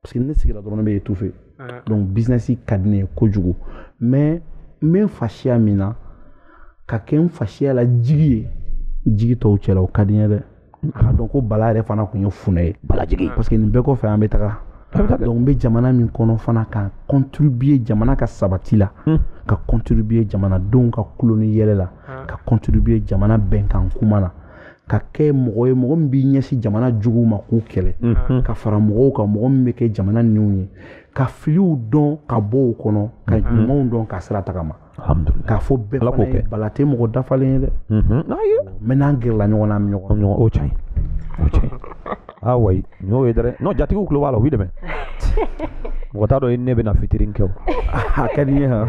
parce que ne sigira dɔrɔn ne bɛ étouffer ah. donc business ka di ne ye kojugu mais n bɛ n fasiya min na ka kɛ n fasiya la jigi ye jigi tɔw cɛla o ka di n ye dɛ a ka dɔn ko bala yɛrɛ fana tun ye funɛ ye balajigi parce que nin bɛɛ kɔfɛ an bɛ taga donc n bɛ jamana min kɔnɔ fana ka contribuer jamana ka sabati la hmm. ka contribuer jamanadenw ka kulo ni yɛlɛ la ah. ka contribuer jamana bɛnkan kuma na ka kɛ mɔgɔ ye mɔgɔ min b'i ɲɛsin jamana juguw ma k'u kɛlɛ mhm. ka fara mɔgɔw kan mɔgɔ min bɛ kɛ jamana niw ye ka filiw dɔn ka bɔ o kɔnɔ ka mhm. ɲumanw dɔn ka sira tagama k'a fɔ bɛɛ fana ye bala tɛ mɔgɔ dafalen ye dɛ mhm. mais n'an gɛrɛla ɲɔgɔn na an bɛ ɲɔgɔn o tiɲɛ o tiɲɛ ah ouais n'o ye dɛ n'o jatigiw tulo b'a la u b'i dɛmɛ mɔgɔ t'a dɔn ne bɛna fitiri kɛ o a ka di n ye han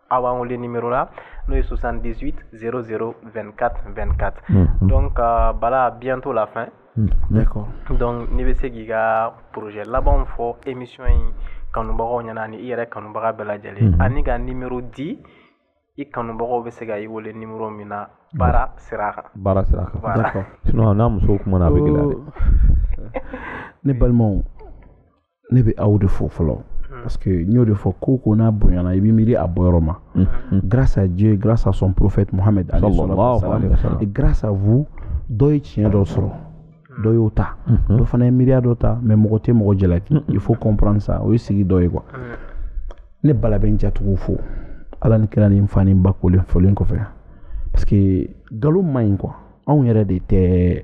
aw b'an wele numéro la n'o ye 78 00 24 24 donc euh, bala bientôt la fin hmm, d'accord donc n'i bɛ se k'i ka projet labanw fɔ émission in kanubagaw ɲɛna ani i yɛrɛ kanubaga bɛɛ lajɛlen hmm. ani ka numéro di i kanubagaw bɛ se ka i wele numéro min na baara sira kan baara sira kan d'accord sinon n'a musow kumana a bɛ gɛlɛya dɛ ne balimaw ne bɛ aw de fo fɔlɔ parce que n y'o de fɔ ko ko n'a bonyana i bɛ miiri a bɔyɔrɔ ma grâce à Dieu grâce à son prophète Mohammed et grâce à vous dɔ ye tiɲɛ dɔ sɔrɔ dɔ y'o ta dɔ fana ye miiriya dɔ ta mais mɔgɔ tɛ mɔgɔ jalaki il faut comprendre ça o ye sigi dɔ ye quoi ne bala bɛ n jatigiw fo ala ni kira ni n fa ni n ba kolen folen kɔfɛ parce que nkalon man ɲi quoi anw yɛrɛ de tɛ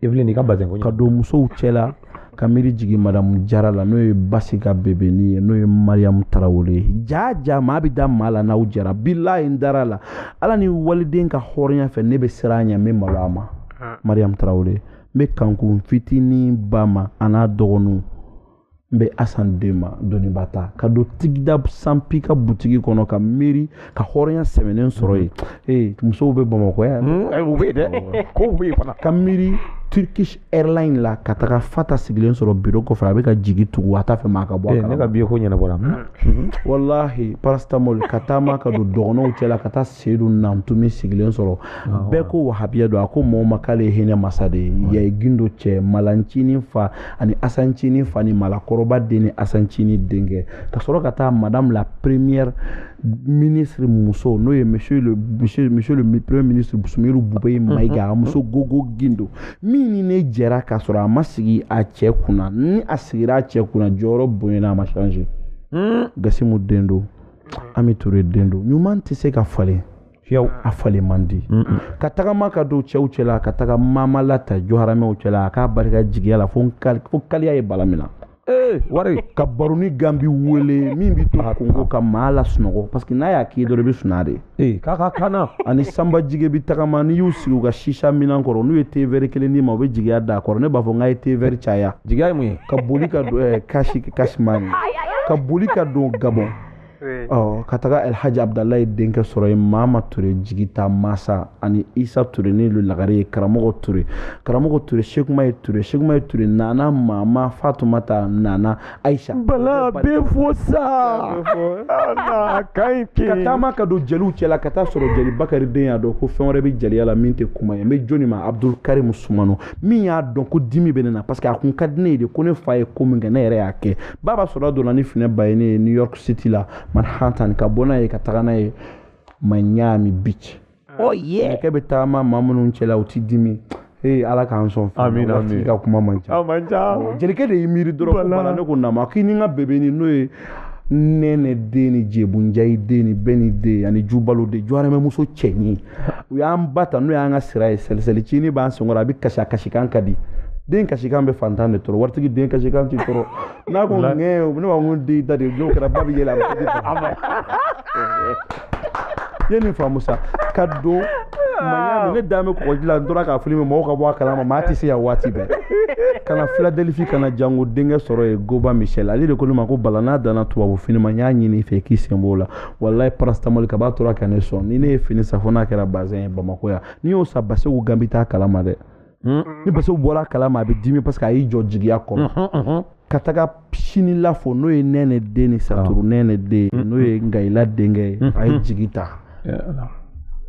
Evelyne i ka bazin ko ka don musow cɛla ka miiri jigi madamu jara la n'o ye basi ka bebeni ye n'o ye mariyamu tarawele ye jaa jaa maa bɛ da maa la n'aw jɛra bilayi n dar'a la ala ni waliden ka hɔrɔnya fɛ ne bɛ siran a ɲɛ n bɛ malo a ma mariyamu tarawele n bɛ kankun fitinin ba ma an'a dɔgɔninw n bɛ asan den ma doniba ta ka don tigida sanpi ka butigi kɔnɔ ka miiri ka hɔrɔnya sɛmɛnen sɔrɔ yen ee musow bɛ bamakɔ yan hmm, eh, u bɛ yen dɛ kow bɛ yen fana ka miiri turkish airline la ka taga fata sigilen sɔrɔ biro kɔfɛ a bɛ ka jigi tugu a t'a fɛ maa ka bɔ a eh, kalama ne ka biye ko ɲɛnabɔra hmm. walahi paracetamol ka taama ka don dɔgɔnɔw cɛla ka taa seyidu nantumi sigilen sɔrɔ bɛɛ ko wahabiya don a ko mɔgɔ ma k'ale ye hinɛ masa de ye yayi gindo cɛ malancinin fa ani asancinin fa ni malakɔrɔba den ni asancinin denkɛ ka sɔrɔ ka taa madame la première ministre muso n'o ye monsieur le monsieur monsieur le premier ministre Sumiru Bubɛyi Mayiga a muso Gogo Gindo min ni ne jɛra k'a sɔrɔ a ma sigi a cɛ kunna ni a sigira a cɛ kunna jɔyɔrɔ bonyana a ma changer gasimu den don ami ture den don ɲuman tɛ se ka falen fiyewu a falen man di ka tagama ka don cɛw cɛla ka taga mama la ta jɔharamɛw cɛla a k'a barika jigiya la fo kaliya ye bala mina ee wari ka baroni ganbi wele min bɛ to kongo ka maa lasunɔgɔ parce que n'a y'a k'i dɔrɔn i bɛ suna de ee k'a ka kanna ani sanba jige bi tagama n'i y'u sigi u ka sisa minan kɔrɔ n'u ye tevɛri kelen d'i ma u bɛ jigiya d'a kɔrɔ ne b'a fɔ n k'a ye tevɛri caya jigiya ye mun ye ka boli ka don eh, kasi kasimani ka boli ka don gabɔn ɔ ka taga alhaji abudalayi denkɛ sɔrɔ yen mama ture jigita masa ani isa ture ni lu lagare ye karamɔgɔ ture karamɔgɔ ture sekuma ye ture sekuma ye ture nana mama fatumata nana Aïcha bala bɛ fo sa ka taama ka don jeliw cɛla ka t'a sɔrɔ jeli bakari den y'a dɔn ko fɛn wɛrɛ bɛ jeliya la min tɛ kuma ye n bɛ jɔni ma abudul karim sumano min y'a dɔn ko dimi bɛ ne na parce que a kun ka di ne ye de ko ne fa ye ko min kɛ ne yɛrɛ y'a kɛ baba sora donna ni finɛ bayini ye new york city la manhattan ka bɔ n'a ye ka taga n'a ye miami beach ɔ yɛ kɛ bɛ taama maa minnu cɛla u ti dimi ee ala k'an sɔn amina amina ka kuma man ca man ca jelikɛ de y'i miiri dɔrɔn ko bala ne ko nama k'i ni n ka bebeni n'o ye nɛnɛ den ni jebunjayi den ni beni den ani jubalo den jɔramɛmuso cɛɲi u y'an ba ta n'o y'an ka sira ye sɛlisɛli cini b'an senkɔrɔ a bɛ kasi a kasikan ka di den kasikan bɛ fantan de tɔɔrɔ waritigi den kasikan t'i tɔɔrɔ n'a ko ŋɛɛ ne b'a ko di da de n'o kɛra ba bɛ yɛlɛ a bɛ di ba ma i ye nin faamu sa ka don miami ne dan bɛ kɔgɔji la n tora k'a filime mɔgɔw ka bɔ a kalama maa tɛ se yan waati bɛɛ ka na filadelifi ka na jango denkɛ sɔrɔ yen goba michel ale de ko ne ma ko bala n'a danna tubabu fini ma n y'a ɲini i fɛ k'i sen b'o la walayi paracetamol kaba tora ka ne sɔn ni ne ye fini san fo n'a kɛra bazɛn ye bamakɔ yan n'i y'o san basegu gan bɛ taa kalama dɛ ni basegu bɔra a kalama a bɛ dimi parce que a y'i jɔ jigiya kɔnɔ ka taga sinila fo n'o ye nɛnɛ den ni saturu nɛnɛ den n'o ye nkayila denkɛ ye a ye jigi ta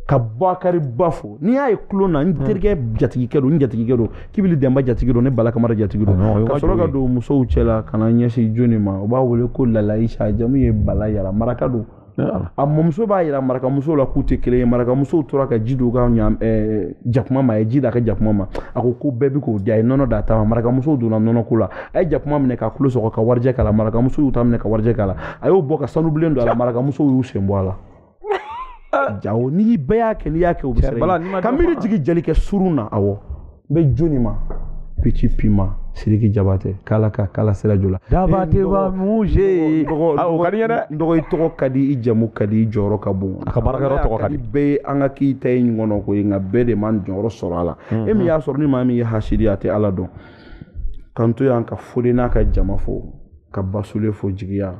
ka bakari ba fo n'i y'a ye tulon na n terikɛ jatigikɛ don n jatigikɛ don kibili denba jatigi don ne bala kamara jatigi don ka sɔrɔ ka don musow cɛla ka na ɲɛsin jɔni ma u b'a wele ko lala isa jamu ye balayira maraka don a mɔmuso b'a yira marakamuso la k'u tɛ kelen ye marakamusow tora ka ji don ka ɲa eh, jakuma ma a ye ji da ka jakuma ma a ko ko bɛɛ bɛ k'o di a ye nɔnɔ d'a ta ma marakamusow donna nɔnɔko la a ye jakuma minɛ k'a tulo sɔgɔ ka warijɛ k'a la marakamuso y'u ta minɛ ka warijɛ k'a la a y'o bɔ ka sanu bilen don a la marakamusow y'u sen bɔ a la jawo n'i bɛɛ y'a kɛ n'i y'a kɛ o bɛ siran ka miiri jigin jelikɛ surun na awɔ n bɛ jɔni ma pici pima siriki jabate k'ala ka k'ala sira jo la jabateba muze o ka di n ye dɛ n dɔgɔ i tɔgɔ ka di i jamu ka di i jɔyɔrɔ ka bon a ka baarakɛyɔrɔ tɔgɔ ka di bɛɛ ye an ka k'i ta ye ɲɔgɔn na ko ye nka bɛɛ de ma jɔyɔrɔ sɔrɔ a la e min y'a sɔrɔ ni maa min ye hasidi a tɛ ala dɔn k'an to yan ka foli n'a ka jama fo ka basule fo jigiya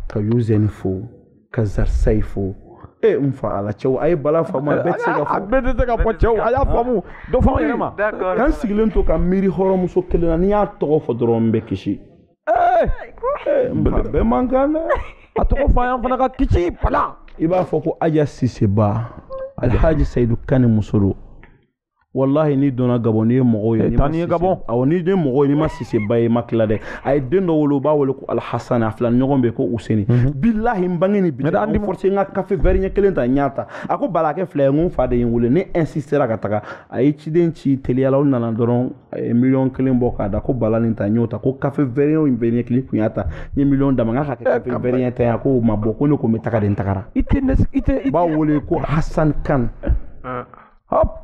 ka yuzɛni fo ka nsar sayi fo ee n fa ala cɛw a ye bala faamu a bɛɛ tɛ se ka fɔ a bɛɛ tɛ se ka fɔ cɛw a y'a faamu dɔ fɔ an yɛrɛ ma k'an sigilen to ka miiri hɔrɔnmuso kelen na n'i y'a tɔgɔ fɔ dɔrɔn n bɛ kisi ee eh! n fa bɛɛ man kan dɛ a tɔgɔ fɔ an fana ka kisi bala i b'a fɔ ko aja siseba alhaji sayidu kane muso don walahi n'i donna gabɔn n'i ye mɔgɔw ye taa n'i ye gabɔn awɔ n'i den mɔgɔw ye n'i ma siseba ye i ma tila dɛ a ye den dɔ wolo u b'a wele ko alhasan a filaɲɔgɔn bɛ ko useni mhm. bilahi n bange ni bi an bɛ force n ka kafe vɛri ɲɛ kelen ta n y'a ta a ko bala a kɛ fila ye n ko n fa de ye n wele ne insistera ka taga a ye ciden ci teliya la u nana dɔrɔn a ye miliyɔn kelen bɔ k'a da ko bala nin ta n y'o ta ko kafe vɛri in bɛ ɲɛ kelen kun y'a ta n ye miliyɔn d'a ma n k'a ka kɛ kafe vɛri ɲɛ ta ye a ko o ma bɔ ko ne ko n bɛ taga de n tagara i tɛ i tɛ i b'a wele ko hasan kan ah. hop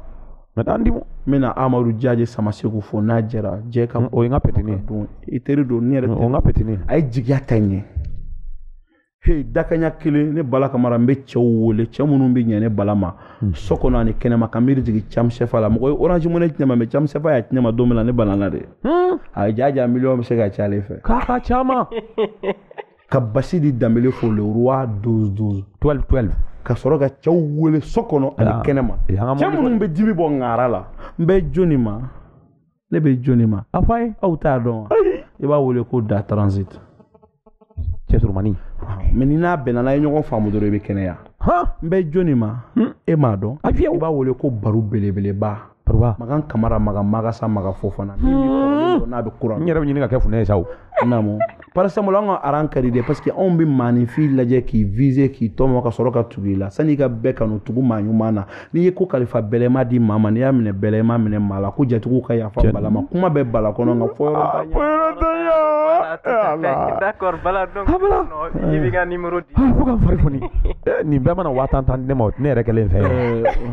mɛ an di n bɛna amadu jaje samasegu fo n'a jɛra jɛ ka o ye n ka petini ye don i teri don ne yɛrɛ o n ka petini ye a ye jigiya ta ɲɛ he dakanya kelen ne bala kamara n bɛ cɛw wele cɛ minnu bɛ ɲɛ ne bala ma hmm. so kɔnɔ ani kɛnɛma ka miiri jigin cam sɛfa la mɔgɔ ye orange money tiɲɛ ma mɛ cam sɛfa y'a tiɲɛ ma don min na ne balala de hmm. a ye jaja miliyɔn bɛ se ka ca ale fɛ k'a ka caman ka basidi danbele fo le roi 12 12 ka sɔrɔ ka cɛw wele so kɔnɔ ani kɛnɛma cɛ minnu bɛ dimi bɔ ŋara la n bɛ jɔni ma ne bɛ jɔni ma a fɔ a ye aw t'a dɔn wa i b'a wele ko da transit cɛ surumani mais n'i n'a bɛnna n'a ye ɲɔgɔn faamu dɔrɔn i bɛ kɛnɛya n bɛ jɔni ma e m'a dɔn i b'a wele ko baru belebeleba makan kamara makan magasa makan fofana min bɛ kɔrɔlen dɔn n'a bɛ kura n yɛrɛ bɛ ɲini ka kɛ funɛ ye sa o naamu par exemple an ka aran ka di dɛ parce que anw bɛ maaninfin lajɛ k'i viser k'i tɔmɔ ka sɔrɔ ka tugu i la sanni i ka bɛɛ kanu tugu maa ɲuman na n'i ye ko kalifa bɛlɛma di maa ma n'i y'a minɛ bɛlɛma minɛ maa la ko jatigiw ka yafa bala ma kuma bɛ bala kɔnɔ nka fɔ yɔrɔ t'a ɲɛ. fɔ yɔrɔ t'a ɲɛ ala d'accord bala donc i b'i ka numéro di. fo ka n fari foni nin bɛɛ mana waa tan tan di ne ma ne yɛrɛ kelen fɛ.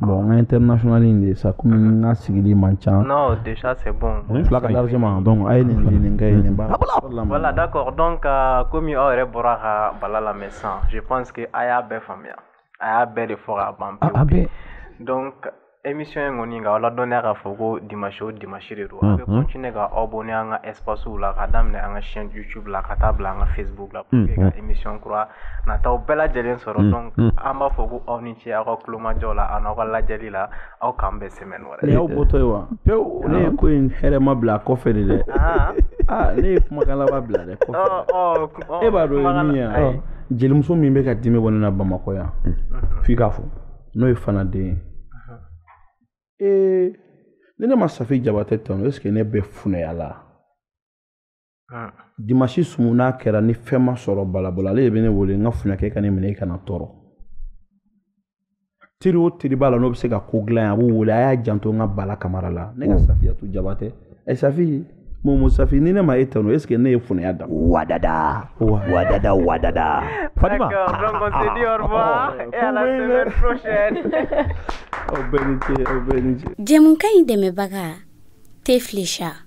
Bon n tɛ nasonali in de sa kɔmi n ka sigili man ca fila ka ma dɔn a ye nin nin kɛ nin wala da kɔ dɔn ka komi aw yɛrɛ bɔra ka bala la san si que a y'a bɛɛ faamuya a y'a bɛɛ de fɔ ka ban emi in kɔni ka ala dɔnniya k'a fɔ ko di masi di masi de don a bɛ kun ne ka aw bɔn ne an ka espsiw la ka daminɛ an ka sjusu la ka taa bila an ka fɛnbugu la emi kura na taa bɛɛ lajɛlen sɔrɔ dɔn an b'a fɔ ko aw ni ce aw ka tulomajɔ la an'aw ka lajɛli la aw k'an bɛn semaine wɛrɛ nin y'aw bɔtɔ ye wa pewu ne ye ko in hɛrɛma bila kɔfɛ de dɛ ah. Ah, ne ye kumakan laban bila dɛ kɔfɛ oh, oh, oh, e b'a dɔn ye min ye jelimuso min bɛ ka dimi bɔ ne na bamakɔ yan mhm. f'i k'a fɔ n'o ye fana den ye mhm. ee ni ne ma safi jabatɛ tanu est ce que ne bɛ funɛya la Ah. Dimanche sumu n'a kɛra ni fɛn ma sɔrɔ bala bolo ale de bɛ ne wele n ka funɛkɛ kan'i miiri i kana tɔɔrɔ. Teri o teri b'a la n'o bɛ se ka ko dilan yen a b'u wele a y'a janto n ka bala kamara la ne ka oh. Safiyatu Jabate ɛ Safi Momo Safi ni ne ma e tanu est ce que ne ye funɛya da. Wadada wadada wadada. Fatima. D'accord donc on se dit au revoir oh, et à la semaine prochaine. Aw bɛɛ ni ce aw bɛɛ ni ce. Jɛmukan in dɛmɛbaga Teflisha.